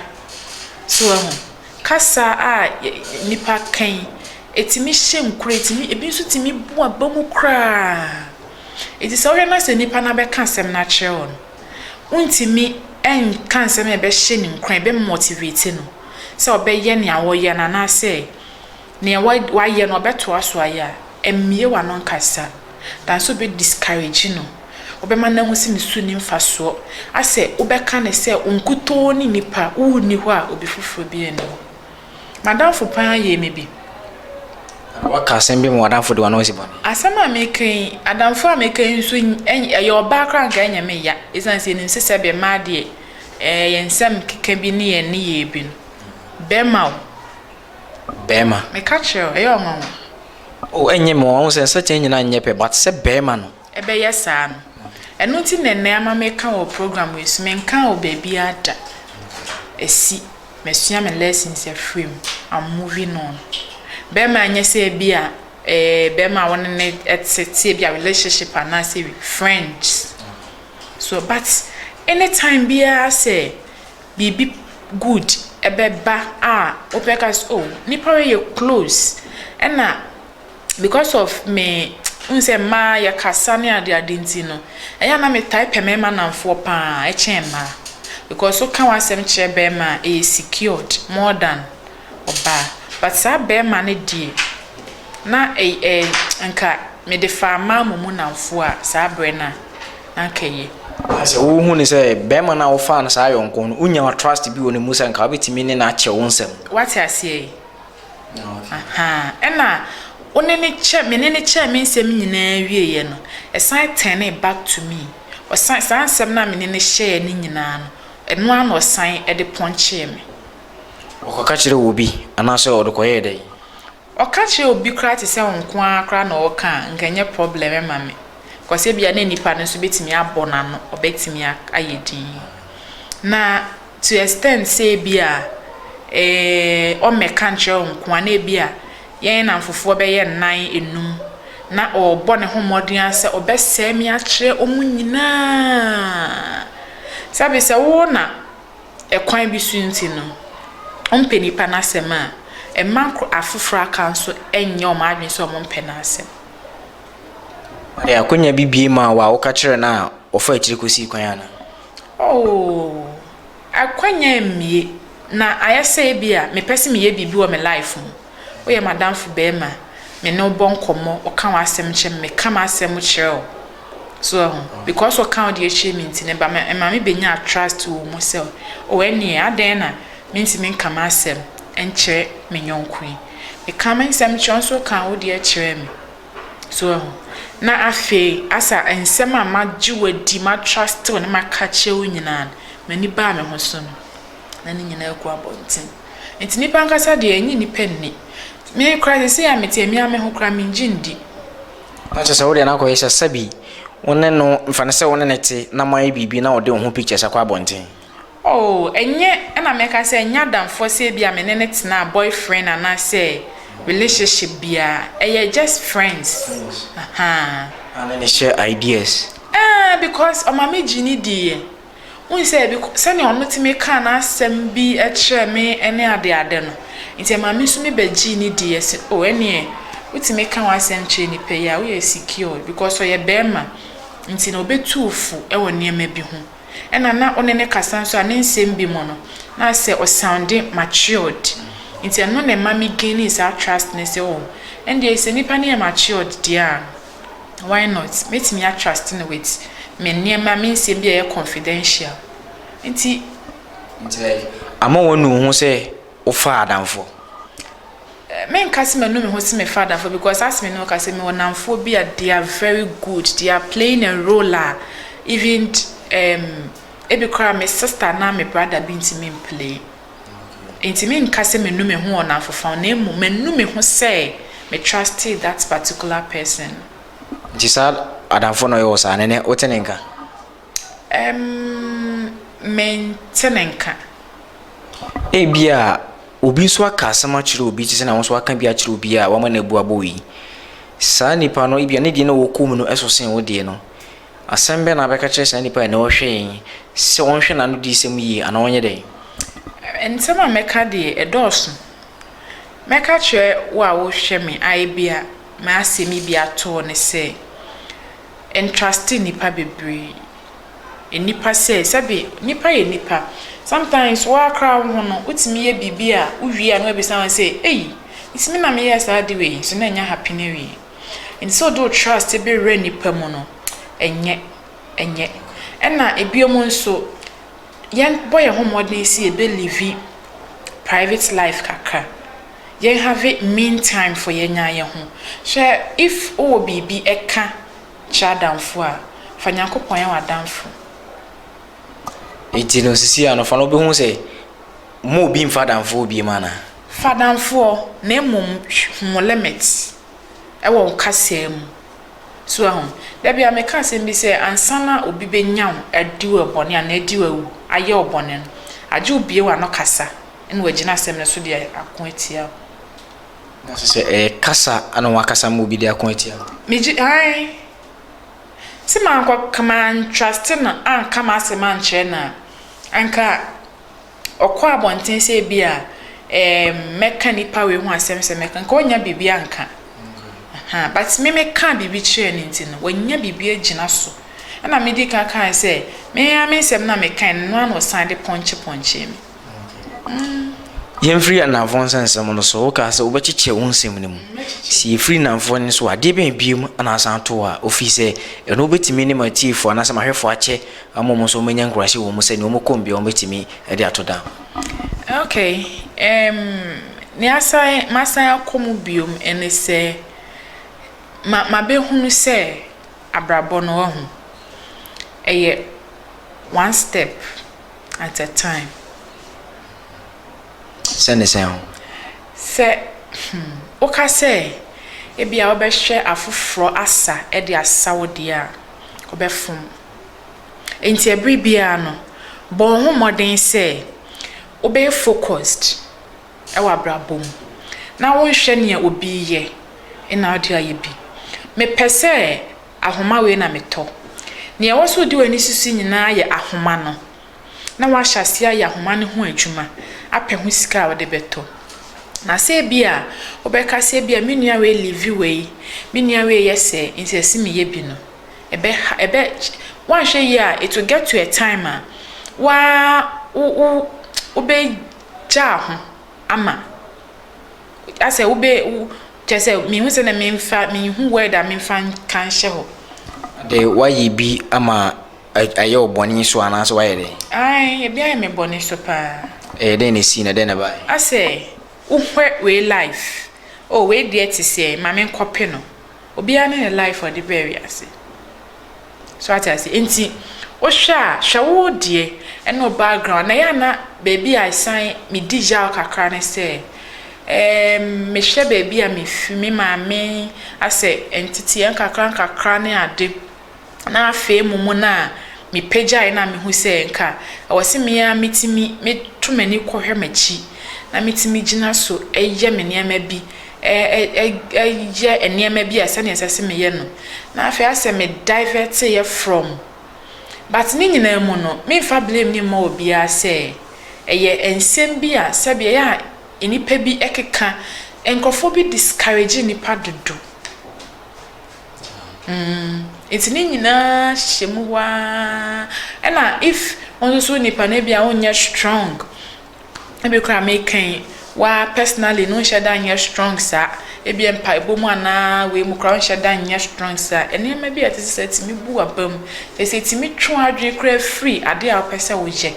A: So wahu? Kasa a nnipa ka yi, ɛtumi hyɛ nkuran, ɛtumi, ɛbi nso tumi bu aba mu koraa. Enti sɛ wohwɛ na sɛ nipa no abɛka asɛm no akyerɛ wo no, wontumi nka nsɛm a ɛbɛhyɛ no nkuran, ɛbɛ motivate no sɛ ɔbɛyɛ nea wɔyɛ no anaasɛ Nea wayɛ no ɔbɛtoa so ayɛ a, mmue w'ano nkasa. Nanso wobɛ discourage no, wobɛma no ahu sɛ ne su nni mfasoɔ, asɛ wobɛka no sɛ wo nkutoo ne nipa, wo nni hɔ a obi foforɔ biara nni hɔ. M'adamfo pa ara yɛɛ me bi. Anaa waka asɛm bi ma w'adamfo de w'ano asi bɔne. Asɛm a meka yi, adamfo a meka yi nso, ɛyɛ ɔbaa koraa a anka ɛnyɛ me ya, ɛsiane sɛ yɛnim sɛ sɛdeɛ mmaa deɛ, ɛɛ yɛn nsɛm keka bi ne yɛn nneyɛɛ bi no, bɛrima o, bɛɛma. Me ka kyerɛ wo, ɛyɛ ɔnwanwa. O, ɛnyɛ me ɔnwanwa, sɛ nsakyera nyina nyɛ pɛ, but sɛ bɛɛma no. Ɛbɛyɛ saa no. Ɛno nti na ɛnnɛ ama me ka wɔ program wei so, me nkaa wɔ baabiara da. Ɛsi, masua me lessons afiri mu, I'm moving on. Bɛɛma nyɛ sɛ ɛbi a, eh, bɛɛma a wo ne no ɛte, te ɛbi a relationship anaa sɛ friends. So, but, anytime biara sɛ. biribi good bɛba a, wobɛka sɛ oh, nnipa wei yɛ close. Ɛna because of me, wohu sɛ mmaa yɛkasa ne ade ade nti no, ɛyɛ a na metaa pɛ mmarima nnamfoɔ pa ara kyɛn mmaa. Because woka w'asɛm kyerɛ barima a, ɛyɛ secured more than ɔbaa. But saa barima no deɛ, na ɛy ɛy anka mede faa mmaa mmom nnamfoɔ a, saa berɛ no a. akɛyɛ. Na sɛ wohu no sɛ barima no a wofaa no saa yɔnko no, wonya trust bi wɔ ne mu sɛ nka wobɛtumi ne no akyɛ wo nsɛm. Woate aseɛ yi? Aha. Ɛna wo ne no kyɛ, me ne no kyɛɛ me nsɛm nyinaa wieeɛ no, ɛsan turnee back to me. Ɔsan, saa nsɛm no a me ne no hyɛɛ no nyinaa no, ɛno ara na ɔsan de pɔnkyee me. Ɔkɔka kyerɛɛ obi, anaasɛ ɔde kɔyɛɛ dɛn? Ɔka kyerɛ obi koraa te sɛ wo nko ara koraa na ɔreka a, anka ɛnyɛ problem mma me, because ebia na nipa no nso betumi abɔ n'ano, ɔbɛtumi ayɛ dinn. Na to extent sɛ ebia eh, ɔmmɛka nkyerɛ wo nko ara, na ebia yɛn nnamfofoɔ bɛyɛ nnan, nnum, na ɔrebɔ ne ho mmɔden ara sɛ ɔbɛsɛe me akyerɛ wɔn nyinaa. Sɛbe sɛ wo na. kwan bi so nti no, ɔmpɛ nnipa no asɛm a, mma nko afoforɔ aka nso nnyɛ wɔn adwene sɛ wɔmpɛ n'asɛm. Ɔde akonnwa bi bue maa wo a, woka kyerɛɛ no a, ɔfaa akyire kɔsii kwan anaa? Oo, akonnwa mmue. Na ayɛ sɛ ebia mepɛ sɛ meyɛ biribi wɔ me life mu. Woyɛ m'adamfo barima, me ne wo bɔ nkɔmmɔ, ɔka w'asɛm kyerɛ me, meka m'asɛm kyerɛ wo. So wahu? Because ɔka wo deɛ kyerɛ me nti no, ɛba ma, ɛma me bɛnya trust wɔ wo mu sɛ, oh, ɛnneɛ adɛn na mentumi nka m'asɛm nkyerɛ me yɔnko yi? Meka me nsɛm kyerɛ wo nso woka wo deɛ kyerɛ me. So wahu? Na afei, asa nsɛm a magye wo adi, matruste wo na maka akyerɛ wo nyinaa no, m'ani baa me ho so no, na ne nyinaa gu abɔnten. Enti nnipa ankasa deɛ, ɛnnye nnipa nni. Me koraa seesei a mete me ara me ho koraa menngye nndi. Na kyerɛ sɛ wo deɛ na akɔyɛ sɛ sɛbi wo ne no, fa no sɛ wo ne no te na moayɛ biribi na ɔde wo ho pictures akɔ abɔnten. Oh, ɛnyɛ, ɛna mɛka sɛ ɛnyɛ adamfoɔ sɛ ebia me ne no tenaa, boyfriend anaasɛ relationship biara. Ɛyɛ just friends. Friends. Aha. Na ne ne share ideas. Ɛɛ, because ɔma me gyee ne diiɛ. Wohu sɛ, bi kɔ, sɛnea ɔno tumi kaa n'asɛm bi kyerɛɛ me ne adeade no, nti ɛmaa me nso mebɛgyee no dii. Ɛse, oh, ɛnneɛ, wotumi ka w'asɛm kyerɛ nnipa yi a, woyɛ secured, because ɔyɛ barima, nti na ɔbɛtu wo fo wɔ nneɛma bi ho. Ɛnna na wo ne no kasa nso a, ne nsɛm bi mu no, na ayɛ sɛ ɔsoundi matured. Nti ɛno na ɛma me gainii saa trust no sɛ, oh, ɛndeɛ sɛ nnipa no yɛ matured deɛ a, why not mɛtumi a trust no with me nneɛma me nsɛm bi a ɛyɛ confidential nti. Nti ama wanu wo ho sɛ wo fa adamfo? Me nka sɛ manu me ho sɛ me fa adamfo because as me no ka sɛ me wɔ namfoɔ bi a they are very good they are playing a role a even um, ebi koraa me sister anaa me brother bi ntumi mplay. Enti menka sɛ manu me ho wɔ nnamfofa ho na mmom manu me ho sɛ me trustee that particular person no. Nti saa adamfo no ɔyɛ wo saa? Nene, wote ne nka? Ɛm, mente ne nka. Ebia obi nso aka asɛm akyerɛ obi te sɛ na wo nso aka bi akyerɛ obi a wama no abu abɔ wo yi. Saa nipa no ebia ne deɛ na ɔwɔ kɔn mu no ɛso sen wo deɛ no. Asɛm bɛn na wobɛka akyerɛ saa nipa a ɛnnɛ ɔhwɛ yɛn yi sɛ ɔnhwɛ n'ano diyisɛm yie anaa ɔnyɛ dɛn? Nsɛm a mɛka deɛ, ɛdɔɔso. Mɛka akyerɛ wo a wohwɛ me a ebia m'asɛm yi bi ato wo ne sɛ, Ntraste nnipa bebree. Nnipa sɛe. Sɛbe, nnipa yɛ nnipa. Sometimes wo ara koraa wo ho no, wotumi yɛ biribi a, wowie a na wɔabisa wo sɛ, Ei, nti me na meyɛɛ saa ade wei yi? So na ɛnyɛ ahapene awie? Nti sɛ ɔde wo trust bɛwura nnipa mu no, ɛnyɛ, ɛnyɛ. Ɛna ɛbio mu nso, yɛn bɔ yɛn ho mmɔden sɛ yɛbɛ live private life kakra. Yɛn have mean time for yɛn ara yɛn ho. Hwɛ, if wo wɔ biribi ɛka kyerɛ adamfo a, fa Nyankopɔn yɛ w'adamfo. Nti no sisi a no fa no wobɛhu sɛ Mma obi mfa adamfoɔ biem anaa? Fa damfoɔ na mmom hu wo limit wɔ wo kasaa mu. So woahu? Da biara meka asɛm bi sɛ ansa na obi bɛnya wo adi wo bɔne anaa adi wo awu ayɛ wo bɔne no, agye wo bue w'ano kasa na wagyina asɛm no so de ako atia wo. Na sɛ sɛ ɛyɛ kasa na woakasa ma obi de ako atia wo? Megye, ae. Sɛ mankɔ, ka mantruste no anka m'asɛm ankyerɛ no a, anka. ɔkɔ abɔnten sɛ ebia ɛɛm mɛka nipa wei ho asɛm sɛ mɛka nka ɔnya biribi anka ahan but me meka biribi kyerɛ ne nti no wanya biribi agyina so ɛna me di kan kan sɛ me ya me nsɛm na meka no no ano san de pɔnkye pɔnkye me. Yɛmfiri anamfoɔ nsa nsɛm no so wokaa sɛ wobɛkyekyɛ wo nsɛm no mu sɛ yɛfiri nnamfoɔ no so adeɛ bɛn biom na asan to a ɔfiri sɛ ɛno wobɛtumi ne matiefoɔ anaasɛ mahwɛfoɔ akyɛ ama wɔn nso wɔanya nkuraase wɔ mu sɛ nea wɔkɔ mu biara wɔbɛtumi de ato dan. Okay, um, nea asan, masan akɔ mu biom ne sɛ, ma, mabɛhunu sɛ abrabɔ no, wahu, ɛyɛ one step at a time. Sɛ ne sɛn ho? Sɛ, hmm, woka sɛ, ebia wobɛhwɛ afoforɔ asa de asa wo deɛ a, wobɛfom. Enti bere biara no, bɔ wo ho mmɔden sɛ wobɛyɛ focused wɔ abrabɔ mu na wonhwɛ nea obi reyɛ na wode ayɛ bi. Mepɛ sɛ ahoma wei na metɔ. Nea ɛwɔ sɛ wode w'ani susu nyinaa yɛ ahoma no, na woahyɛ aseɛ ayɛ ahoma no ho adwuma apɛ ho sika a wode bɛtɔ. Na sɛ ebi a wobɛka sɛ ebi a me nua wei live wei, me nua wei yɛ sɛɛ, enti ɛsɛ sɛ meyɛ bi no, ɛbɛha ɛbɛ woanhwɛ yie a it will get to a time a wa wo wo wobɛgyaa ho ama asɛ wobɛ wo kyerɛ sɛ mehu sɛ na memfa menhu word a memfa nka nhyɛ hɔ. De woayɛ bi ama ayɛ wo bɔne so anaasɛ woayɛ dɛ? Ae ebi ayɛ me bɔne so paa. Ɛyɛ dɛn na esii na dɛn na ɛbae? Asɛ wohwɛ wei life oh wei deɛ te sɛ ma menkɔpe no. Obiara ne ne life a ɔde baa wiase. So wate ase? Nti, wohwɛ a, hwɛ wo deɛ ɛne wo background. Na ɛyɛ a na baabi a ɛsan medi yaw kakra ne sɛ, ɛɛm, mehwɛ baabi a mefi, me maame asɛ nteteɛ nkakra nkakra ne ade. na afei mumu no a mipagyae no a mihu sɛ nka ɛwɔ sɛ me ara mitumi meto m'ani kɔhwɛ m'akyi na mitumi gyina so yɛ me nneɛma bi, yɛ nneɛma bi a sɛnea ɛsɛ sɛ meyɛ no, na afei ayɛ sɛ me divert-eɛ from. But ne nyinaa mu no, memfa blame no mma obiara sɛ ɛyɛ nsɛm bi a sɛbe ɛyɛ a nnipa bi keka, nkurɔfoɔ bi discourage nnipa dodo. Mm, enti ne nyinaa hyehyɛ mu hɔ ara. Ɛna if wo nso so nipa no ebia wonyɛ strong, ebi koraa mekan waa personally no nhyɛ da nyɛ strong saa, ebia mpaebɔ mu anaa wei mu koraa wonhyɛ da nyɛ strong saa. Nneɛma bi a ɛte sɛ tumi bu w'aba mu, kyerɛ sɛ etumi twe w'adwene koraa firi ade a wopɛ sɛ woyɛ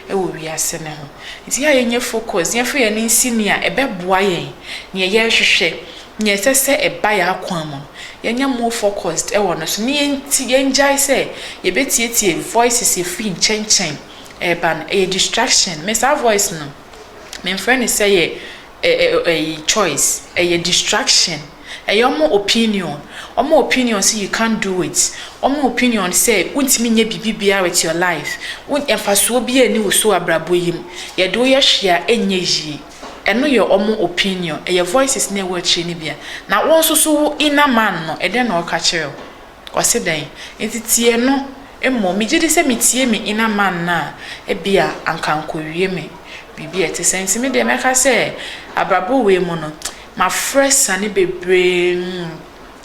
A: wɔ wiase no ho. Enti yɛ a yɛnyɛ focus, yɛmfa yɛn ani nsi nea ɛbɛboa yɛn, nea yɛrehwehwɛ. Nea ɛsɛ sɛ ɛba yɛn akwan mu no, yɛnyɛ more focused wɔ no so, na yɛnti, yɛngyae sɛ yɛbɛtietie voices a ɛfiri nkyɛnkyɛn reba no. Ɛyɛ distraction. Me, saa voice no, memfrɛ no sɛ yɛ ɛ, ɛ, ɛyi, choice. Ɛyɛ distraction. Ɛyɛ wɔn opinion. Wɔn opinion sɛ you can't do it. Wɔn opinion sɛ wontumi nyɛ biribi biara with your life. Wo, mfasoɔ biara nni wo so wɔ abrabɔ yi mu. Yɛde wo yɛ hwee a, ɛnyɛ yie. Ɛno yɛ wɔn opinion. Ɛyɛ voices no a ɛwɔ akyire no bi a. Na wo nso so wo inner man no, ɛdɛn na ɔka kyerɛ wo? Ɔse dɛn? Nti tie no mmom. Megye di sɛ metie me inner man no a, ebia anka ankɔwie me biribi a ɛte saa. Nti me deɛ mɛka sɛ abrabɔ wei mu no, mafrɛ asiane bebree.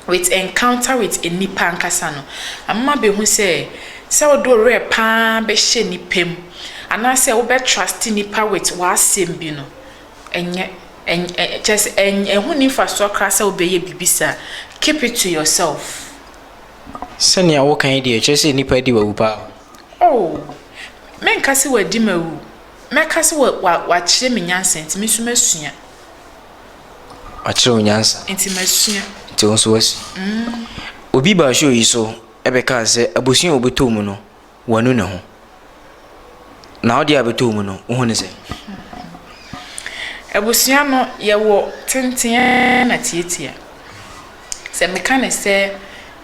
A: with encounter with nnipa ankasa no, amema behu sɛ, sɛ wode wo werɛ paa bɛhyɛ nnipa mu, anaasɛ wobɛ trust nnipa with w'asɛm bi no, ɛnyɛ, ɛnyɛ, kyerɛ sɛ, ɛnyɛ, ɛho nni mfasoɔ koraa sɛ wobɛyɛ biribi saa. Keep it to yourself. Sɛnea woka yi deɛ, ɛkyerɛ sɛ nnipa adi w'awu paa o. Oh! Menka sɛ wɔadi m'awu. Mɛka sɛ wa, wa, wɔakyerɛ me nyansa nti, me nso masua. Makyerɛ wo nyansa. Nti masua. Nti wo nso woasua. Mm. Obi baa show yi so ɛbɛkaa sɛ abusua a wɔbɛtɔ mu no wanu ne ho. Na wode a bɛtɔ mu no wohu ne sɛ? Abusua no yɛwɔ tenten na tiatia. Sɛ meka ne sɛ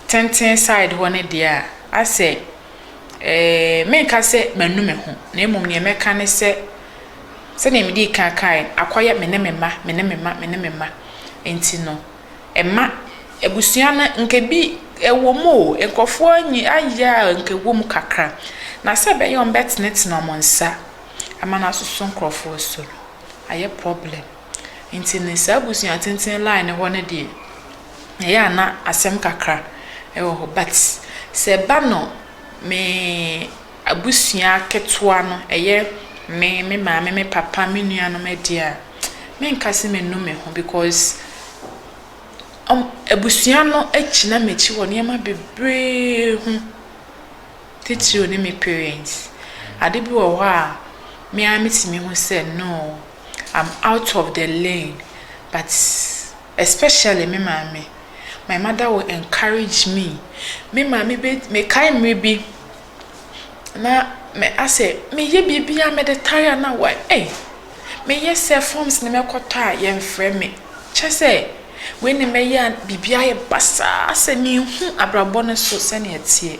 A: tenten side hɔ no deɛ a asɛ ɛɛ menka sɛ manu me ho na mmom deɛ mɛka ne sɛ. Sɛdeɛ medii kan kaeɛ no, akɔyɛ me ne me mma, me ne me mma, me ne me mma nti no, mma abusua no nka ebi wɔ mu o, nkurɔfoɔ anyi ayɛ a nka ɛwɔ mu kakra. Na sɛ ɛbɛyɛ a wɔbɛtenetene wɔn nsa ama no asoso nkurɔfoɔ so no, ayɛ problem. Nti no, saa abusua tenten line no hɔ no deɛ, ɛyɛ a na asɛm kakra wɔ hɔ but sɛ ɛba no me. abusua ketewa no, ɛyɛ me, me maame, me papa, me nuanom deɛ a, menka sɛ menu me ho because wɔn, abusua no agyina m'akyi wɔ nneɛma bebree ho, titiriw ne me parents. Ade bi wɔ hɔ a, me ara metumi hu sɛ no, I'm out of the lane but especially me maame, my mother will encourage me. Me maame bɛ, mekae mmerɛ bi. na me asɛ meyɛ biribiaa mede tare a na wa ei meyɛ sɛ forms ne mɛkɔtɔ a yɛnfrɛ me kyɛsɛ wei ne mɛyɛ a biribi ayɛ basaa asɛ menhu abrabɔ no so sɛnea ɛteɛ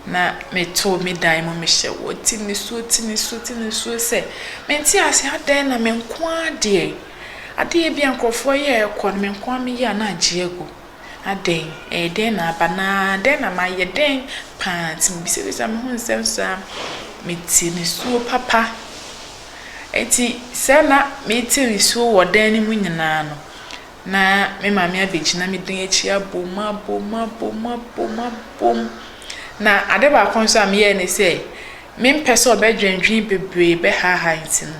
A: na meto me dan mu mehyɛ wɔ ti nisuo ti nisuo ti nisuo sɛ mente ase adɛn na menkoaa deɛ adeɛ bi a nkurɔfoɔ yɛ ɛkɔ no menkoaa meyɛ a na agye agu Adɛn? Ɛyɛ dɛn na aba? Na dɛn na mayɛ? Dɛn paa nti? Mebisabisa me ho nsɛm saa. Mete nisuo papa. Enti sɛɛ na mete nisuo wɔ dan no mu nyinaa no, na me maame abɛgyina me dan akyi abom, abom, abom, abom, abom. Na ade baako nso a meyɛɛ ne sɛ, mempɛ sɛ ɔbɛdwendwen bebree bɛhaahaa nti no,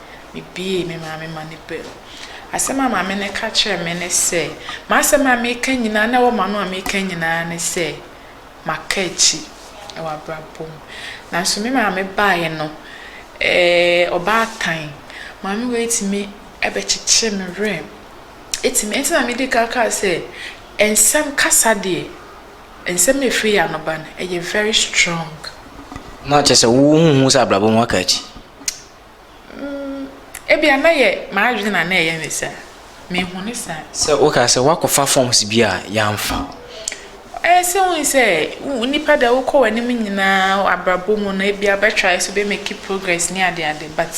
A: Mibuee me maame ma no baam. Asɛm a maame no ka kyerɛɛ me ne sɛ, M'asɛm a mereka nyinaa na ɛwɔ m'ano a mereka nyinaa ne sɛ, Maka akyi wɔ abrabɔ mu. Nanso me maame baeɛ no, eh, ɔbaatan, maame wei tumi bɛkyekyee me werɛ. Ɛtumi, ɛnti na medi kan kaa sɛ, nsɛm kasa deɛ, nsɛm a ɛfiri yɛn ano ba no, ɛyɛ very strong. Na kyerɛ sɛ wohu sɛ abrabɔ mu waka akyi? Mm, ebia na yɛ m'adwene na na ɛyɛ me saa. Mehu ne saa. Sɛ woka sɛ woakɔfa forms bi a yɛamfa. Ɛɛ sɛ wohu sɛ nipa da wokɔ w'anim nyinaa abrabɔ mu no ebia bɛtrae so bɛmaki progress ne ade ade but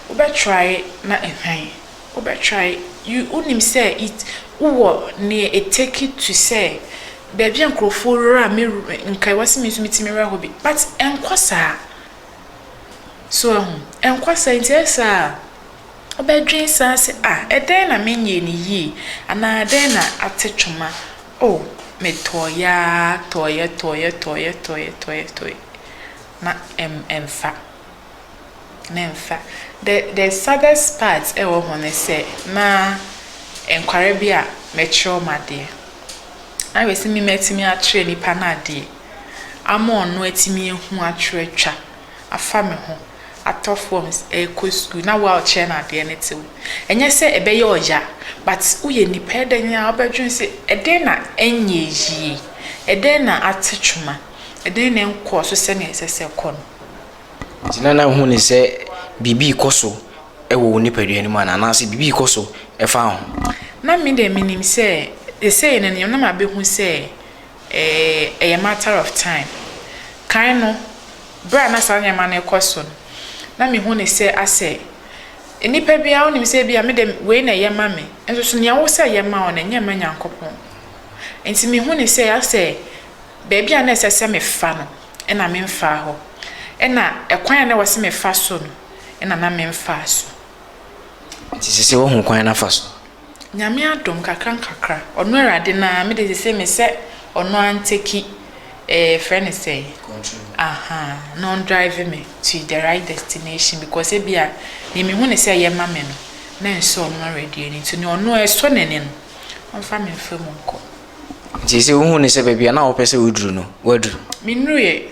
A: wobɛtrae na ɛhwan? Wobɛtrae, you wonim sɛ it wowɔ nea it take it to sɛ baabi a nkurɔfoɔ wura a me nka ɛwɔ sɛ me nso metumi wura hɔ bi but ɛnkɔ saa. So ahu? Ɛnkɔ saa. Enti ɛyɛ saa a, wobɛdwen saa sɛ, 'Ah, ɛdɛn na menyɛɛ no yie? Anaa ɛdɛn na ate twoma? Oh, metɔeɛ ara tɔeɛ, tɔeɛ, tɔeɛ, tɔeɛ, tɔeɛ, tɔeɛ. Na ɛm, ɛmfa. Na ɛmfa. The, the saddest part wɔ ho ne sɛ, na nkwadaa bi a mɛkyerɛ wɔn adeɛ. Na ayɛ sɛ me matumi akyerɛ nnipa no adeɛ. ama ɔno atumi ahu atwerɛ atwa afa me ho atɔ forms ɛrekɔ sukuu na wo a ɔkyerɛ no adeɛ no te wo ɛnyɛ sɛ ɛbɛyɛ ɔya but woyɛ nipa ɛdɛn a wobɛdwene sɛ ɛdɛn na ɛnyɛ yie ɛdɛn na ate twoma ɛdɛn na ɛnkɔɔ so sɛnea ɛsɛ sɛ ɛkɔ no. Gyina na hu ne sɛ biribi rekɔ so wɔ wo nipadua no mu anaa anaasɛ biribi rekɔ so ɛfa ho. Na me deɛ menim sɛ sesei no nneɛma na mabɛhu sɛ Ɛyɛ matter of time. Kan no, berɛ a na saa nneɛma no rekɔ so no, na mehu no sɛ asɛ nnipa bi ara wonim sɛ ebia me deɛ wei na ɛyɛ ma me, nso so nea wo sɛ ɛyɛ ma wo no, ɛnyɛ mma Nyankopɔn. Nti mehu no sɛ asɛ baabi a na ɛsɛ sɛ mefa no, ɛna memfaa hɔ. Ɛna ɛkwan a na ɛwɔ sɛ mefa so no, ɛna na memfaa so. Nti seesei woahu kwan no afa so? Nyame adom kakra nkakra ɔno awurade no aa mede sesei mesɛ ɔno antɛki ɛɛ yɛfrɛ no sɛn ahaa na ɔn drive me to the right destination because ebia neɛ mehu ne sɛ ɛyɛ ma me no mɛnsɔ ɔno awurade ani nti neɛ ɔno ɛsɔ n'ani no ɔmfa me mfa mu nkɔ. Nti sɛ wohu no sɛ baabi a na wopɛ sɛ woduru no woaduru? Mennuruiɛ.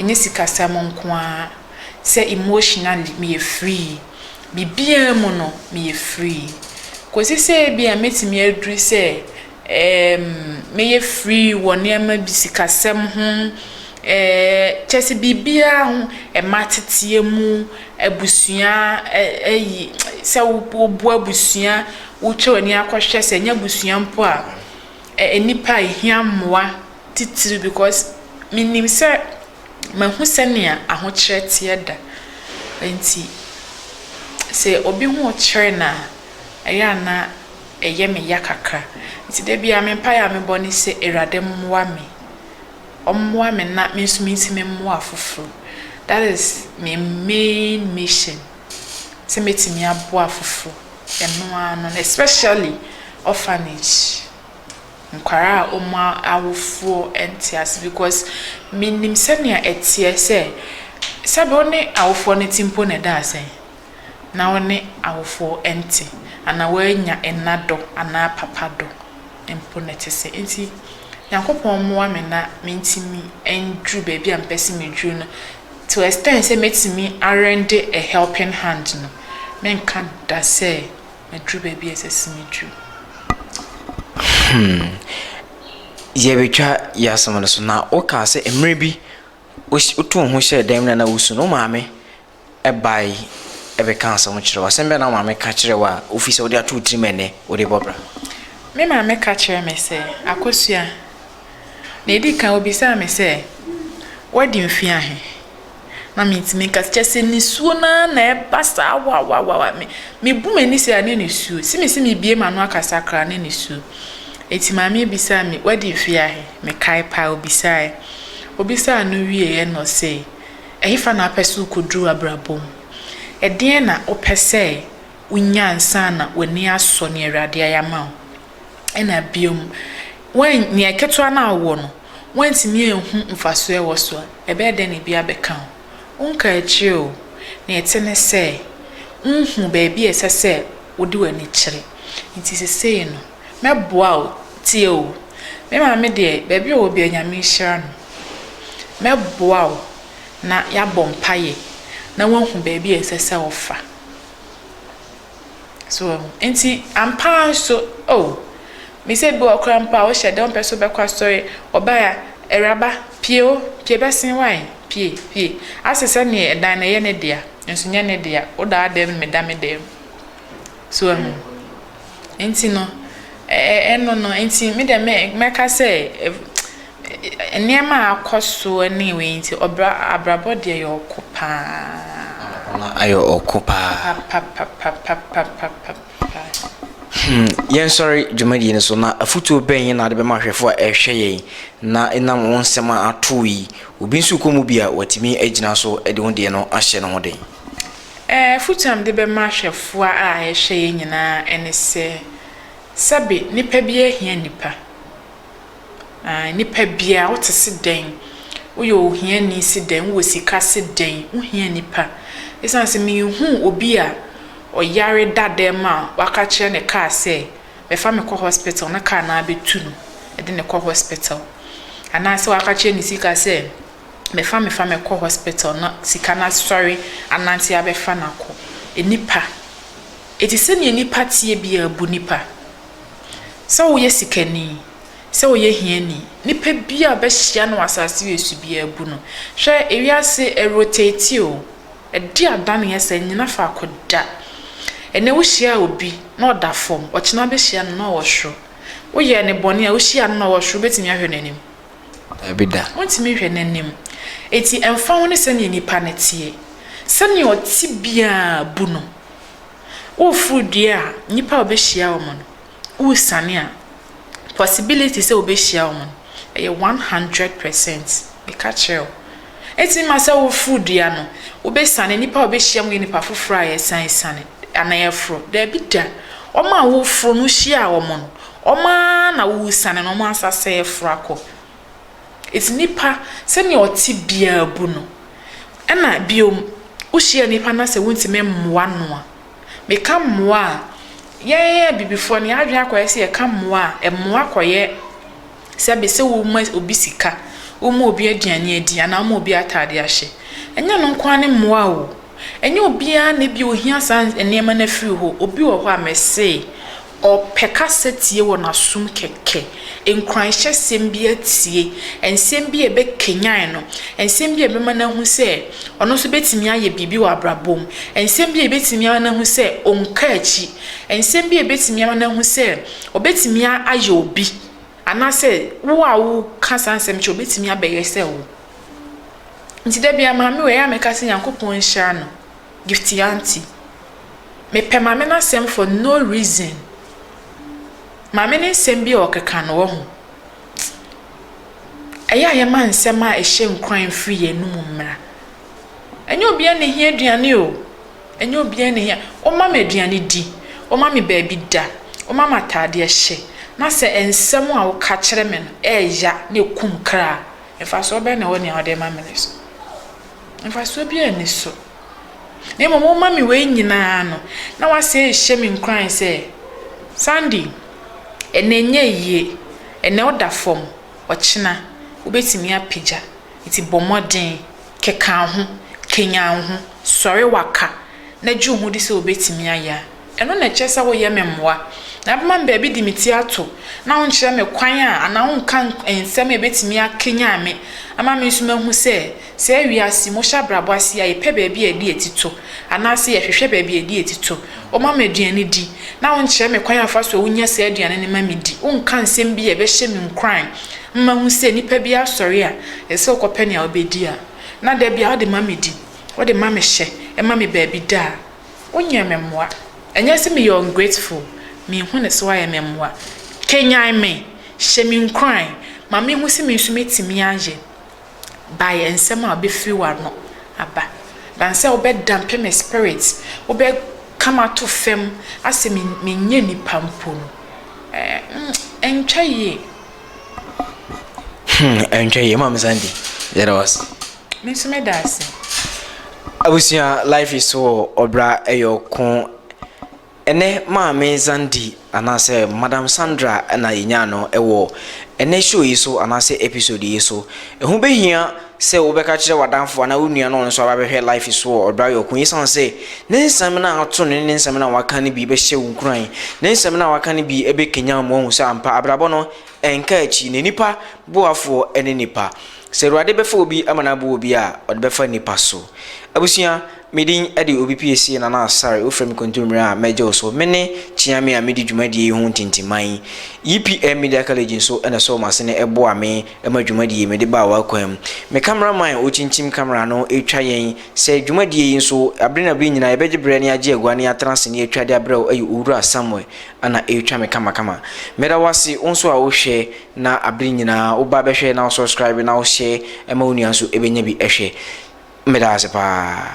A: Ɛnyɛ sikasɛm nko ara, sɛ emotionally meyɛ free. Biribiara mu no meyɛ free. Kɔsi sɛ ebia mɛtumi aduru sɛ ɛɛm mɛyɛ free wɔ nneɛma bi sikasɛm ho, ɛɛɛ kyerɛ sɛ biribiara ho, mma ateteɛ mu, abusua ɛ ɛyi sɛ woboa abusua, wotwa w'ani akɔhwɛ sɛ ɛnyɛ abusua mpo a, ɛ nnipa a ɛhia mmoa. titiriw because minim sɛ mahu sɛnea ahokyerɛ teɛ da nti, sɛ obi ho rekyere no a, ɛyɛ a na ɛyɛ me ya kakra. Nti da biara me mpae a mebɔ ne sɛ, Awurade mmoa me. Ɔmmoa me na me nso mintumi mmoa afoforo. That is me main mission, sɛ mɛtumi aboa afoforo. Ɛno ara no, especially orphanage. nkwadaa a wɔn awofoɔ nte ase because menim sɛdeɛ ɛteɛ sɛ sɛbe wo ne awofoɔ no te mpo na ɛda asɛn na wo ne awofoɔ nte anaa woannya ɛna dɔ anaa papa dɔ mpo na ɛte sɛ nti Nyankopɔn mmoa me na mentumi nduru baabi a mepɛ sɛ meduru no to extent sɛ mɛtumi arende a helping hand no menka da sɛ maduru baabi a ɛsɛ sɛ meduru. Hmm. Yɛretwa yɛ asɛm no so na wokaa sɛ mmerɛ bi wotu wo ho hyɛɛ dan mu na na wosu no wo maame bae ɛbɛka asɛm kyerɛ wo asɛm bɛn na wo maame ka kyerɛ wo a wofi sɛ wode ato wo tirim ɛnɛ wode bɔ bra. Me maame ka kyerɛ me sɛ akosua Nea edi kan, obisaa me sɛ, Woadi mfe ahe? Na mintumi nka. Kyerɛ sɛ nisuo no ara na ɛba saa wawawawa. Me, mebu m'ani sɛɛ a na nisuo. Se mese mebue m'ano akasa koraa na nisuo. Enti maame yi bisaa me, Woadi mfe ahe? Mekae paa, obisaeɛ. Obisaa no wieeɛ na ɔse, Ɛhefa na wopɛ sɛ wokɔduru w'abrabɔ mu? Ɛdeɛn na wopɛ sɛ wonya ansa na w'ani asɔ nea Awurade ayɛ ama wo? na bio, wɔn, nea ketewa no a wowɔ no, woantumi anhu mfaso a ɛwɔ so a, ɛbɛyɛ dɛn na ebi abɛka ho? Wonka akyiri oo, nea ɛte ne sɛ, wuhu baabi a ɛsɛ sɛ wode w'ani kyerɛ. Enti seesei no, mɛboa wo, tie oo, me maame deɛ, baabi a ɔwɔ biara Nyame nhyira no, mɛboa wo na yɛabɔ mpaeɛ na woahu baabi a ɛsɛ sɛ wofa. So wahu? Enti, ampa ara nso, oh, mise bi wɔ koraa mpo a wohyɛ da wompɛ sɛ wobɛkɔ asɔre, wɔbae a, Awuraba, pue o, pue bɛsen wae, pue, pue. Ase sɛnea ɛdan no, ɛyɛ ne dea, nanso ɛnyɛ ne dea, wo da w'adan mu, meda me dan mu. So wahu? Enti no, ɛ, ɛ, ɛno no, enti me deɛ me, mɛka sɛ, Nneɛma a akɔ so ne wei nti, ɔbra abrabɔ deɛ yɛ ɔko pa ara. Anɔpahema ayɛ ɔko pa ara. Papapapapapapapa. Hmm, Yɛnsɔre dwumadie no so, na afotuo bɛn na wode bɛma ahwɛfoɔ a ɛrehwɛ yɛn na ɛnam wo nsɛm a atoo yi, obi nso rekɔ mu bi a, watumi agyina so de wo deɛ no ahyɛ ne ho den? Afotuo a mede bɛma ahwɛfoɔ a ɛrehwɛ yɛn nyinaa ne sɛ, sɛbe, nnipa biara hia nnipa. Aah nipa biaa wo te se dɛn? Wo yɛ ohiani se dɛn? Wo wɔ sika se dɛn? Wo hia nipa. Esiane se menhuu obi a ɔyare da dɛm a waka kyerɛ ne car sɛ bɛfa me kɔ hospital na car no ara bɛtu no de no kɔ hospital. Anaa sɛ waka kyerɛ ne sika sɛ bɛfa me fa me kɔ hospital na sika no asɔre anante abɛfa no akɔ. Nipa. Enti sɛdeɛ nipa teɛ biaa bu nipa. Sɛ woyɛ sikani, sɛ woyɛ hiani, nipa biaa wobɛhyia no wɔ asaase wesu biaa bu no. Hwɛ ewiase ɛrotate o, ɛde adaneɛ sɛ ɛnnyina faako da. Ɛnɛ wohyiaa obi na ɔda fɔm, ɔkyena wobɛhyia no na ɔwɔ soro. Woyɛɛ no bɔne a wohyiaa no na ɔwɔ soro, wobɛtumi ahwɛ n'anim? Daabi da. Wontumi nhwɛ n'anim. Enti ɛmfa ho ne sɛdeɛ nipa no teɛ, sɛdeɛ ɔte biaa bu no. Woreforo dua a, nnipa a wobehyia wo no, woresiane a, possibility sɛ wobehyia wo no, ɛyɛ one hundred percent. Meka kyerɛ wo. Etumi ma sɛ woreforo dua no, wobesiane, nnipa a wobehyia mu yɛ nnipa foforo a yɛsan esiane anaa yɛforo. Dabi da, wɔn a woreforo no, wuhyiaa wɔn no, wɔn ara na woresiane na wɔn asan asɛe aforo akɔ. Enti nnipa, sɛnea ɔte biara bu no. Ɛnna bio, wohyia nnipa na sɛ wontumi mmoa no a, meka mmoa a, yɛn Abibifoɔ no, yɛn adwene akɔyɛ sɛ yɛka mmoa a, mmoa kɔyɛ sɛ bi sɛ woma obi sika, woma obi aduane adi anaa woma obi atadeɛ ahyɛ. Ɛnyɛ ɛno nko ara ne mmoa o. Ɛnyɛ obiara na ebia ɔhia saa nneɛma no afiri hɔ. Obi wɔ hɔ a, mese, Ɔpɛ kasa tie wɔ n'asom kɛkɛ, nkuranhyɛsɛm bi atie, nsɛm bi a ɛbɛkanyan no, nsɛm bi a ɛbɛma no ahu sɛ ɔno nso bɛtumi ayɛ biribi wɔ abrabɔ mu, nsɛm bi a ɛbɛtumi ama no ahu sɛ ɔnka akyi, nsɛm bi a ɛbɛtumi ama no ahu sɛ ɔbɛtumi ayɛ obi, anaasɛ wo a woka saa nsɛm kyerɛ ɔbɛtumi abɛyɛ sɛ wo. Nti da biara maame wei ɛyɛ a mɛka sɛ Nyankopɔn nhyira no. Gifty aunty mepɛ maame n'asɛm for no reason maame ne nsɛm bi a ɔkeka no wɔ ho ɛyɛ a yɛma nsɛm a ɛhyɛ nkuran mfiri yɛn anum mmra ɛnyɛ obiara na ehia aduane o ɛnyɛ obiara na ehia ɔma me aduane di ɔma me baabi da ɔma me ataadeɛ hyɛ na sɛ nsɛm a ɔka kyerɛ me no ɛɛya na ekum kra mfasoɔ bɛn na ɛwɔ nea ɔde ma me no so. Mfasoɔ biara nni so. Na mmom woma me wei nyinaa no, na woasɛ rehyɛ me nkuran sɛ, Sandy, ɛnnɛ nyɛ yie, ɛnnɛ woda fam, ɔkyena wobɛtumi apagya, nti bɔ mmɔden, keka wo ho, kanyan wo ho, sɔre waka, na gye wo ho di sɛ wobɛtumi ayɛ a. Ɛno na ɛkyerɛ sɛ woyɛ me mmoa, na wobɛma me baabi de me ti ato, na wonkyerɛ me kwan a, anaa wonka nsɛm a ebetumi akanyan me ama me nso mahu sɛ, saa wiase mu, wohyɛ abrabɔ ase a, yɛpɛ baabi a yɛde yɛn ti to, anaasɛ yɛhwehwɛ baabi a yɛde yɛn ti to. Woma me aduane di, na wonkyerɛ me kwan a fa so a wunya saa aduane no ma midi. Wonka nsɛm bi a ɛbɛhyɛ me nkuran ma mahu sɛ nnipa bi asɔre a, ɛsɛ sɛ wokɔpɛ nea wobedi a, na da biara wode ma midi, wode ma mehyɛ, ɛma me baabi da a. Wonyɛ me mmoa. Ɛnyɛ sɛ meyɛ ungrateful, menhu no sɛ woayɛ me mmoa. Kanyan me, hyɛ me nkuran, ma menhu sɛ me nso mɛtumi ayɛ by nsɛm a wobɛfiri w'ano aba. Than sɛ wobɛdampe me spirit, wobɛka m'ato fam asɛ menyɛ nipa mpo no, ɛntwa yie. Hmm, ɛntwa yie. Momma mensan bi. Yɛda wo ase. Me nso meda ase. Abusua life is so ɔbra ɛyɛ ɔko ɛnɛ maame Zandi anaasɛ madam Sandra na yɛnyaa no ɛwɔ ɛnɛ show yi so anaasɛ episode yi so ɛho bɛhia sɛ wobɛka kyerɛ wadanfo anaa wo nua na ɔno nso aba bɛhwɛ life is so ɔbra ɛyɛ ɔko yɛsan sɛ ne nsɛm no ato ne ne nsɛm no a waka no bi bɛhyɛ wo nkuran ne nsɛm no a waka no bi ɛbɛkanya mu ahu sɛ ampa abrabɔ no ɛnka akyi na nipa boafoɔ ɛne nipa Sɛ Awurade bɛfa obi ama no abu obi a, ɔde bɛfa nnipa so. Abusua, me din de Obi Piesie Nana Asare, wofrɛ me Kontommire a, mɛgyew so. Mene Kyeame a medi dwumadie yi ho ntintiman. YPM Media College nso na ɛsɔɔ m'asene boaa me ma dwumadie yi mede baa w'akwan mu. Me camera man a ɔkyinkyim camera no retwa yɛn sɛ dwumadie yi nso, bere na bere nyinaa yɛbɛgye berɛ na yɛagye agua na yɛatena ase na yɛatwa de abrɛ wo yɛ Owura Samuel na ɛretwa me kamakama. Meda wo ase wo nso a wohwɛ na abere nyinaa woba bɛhwɛ na wo subscribe na wo share ma wo nua nso ɛbɛnya bi ɛhwɛ. Meda wo ase paa.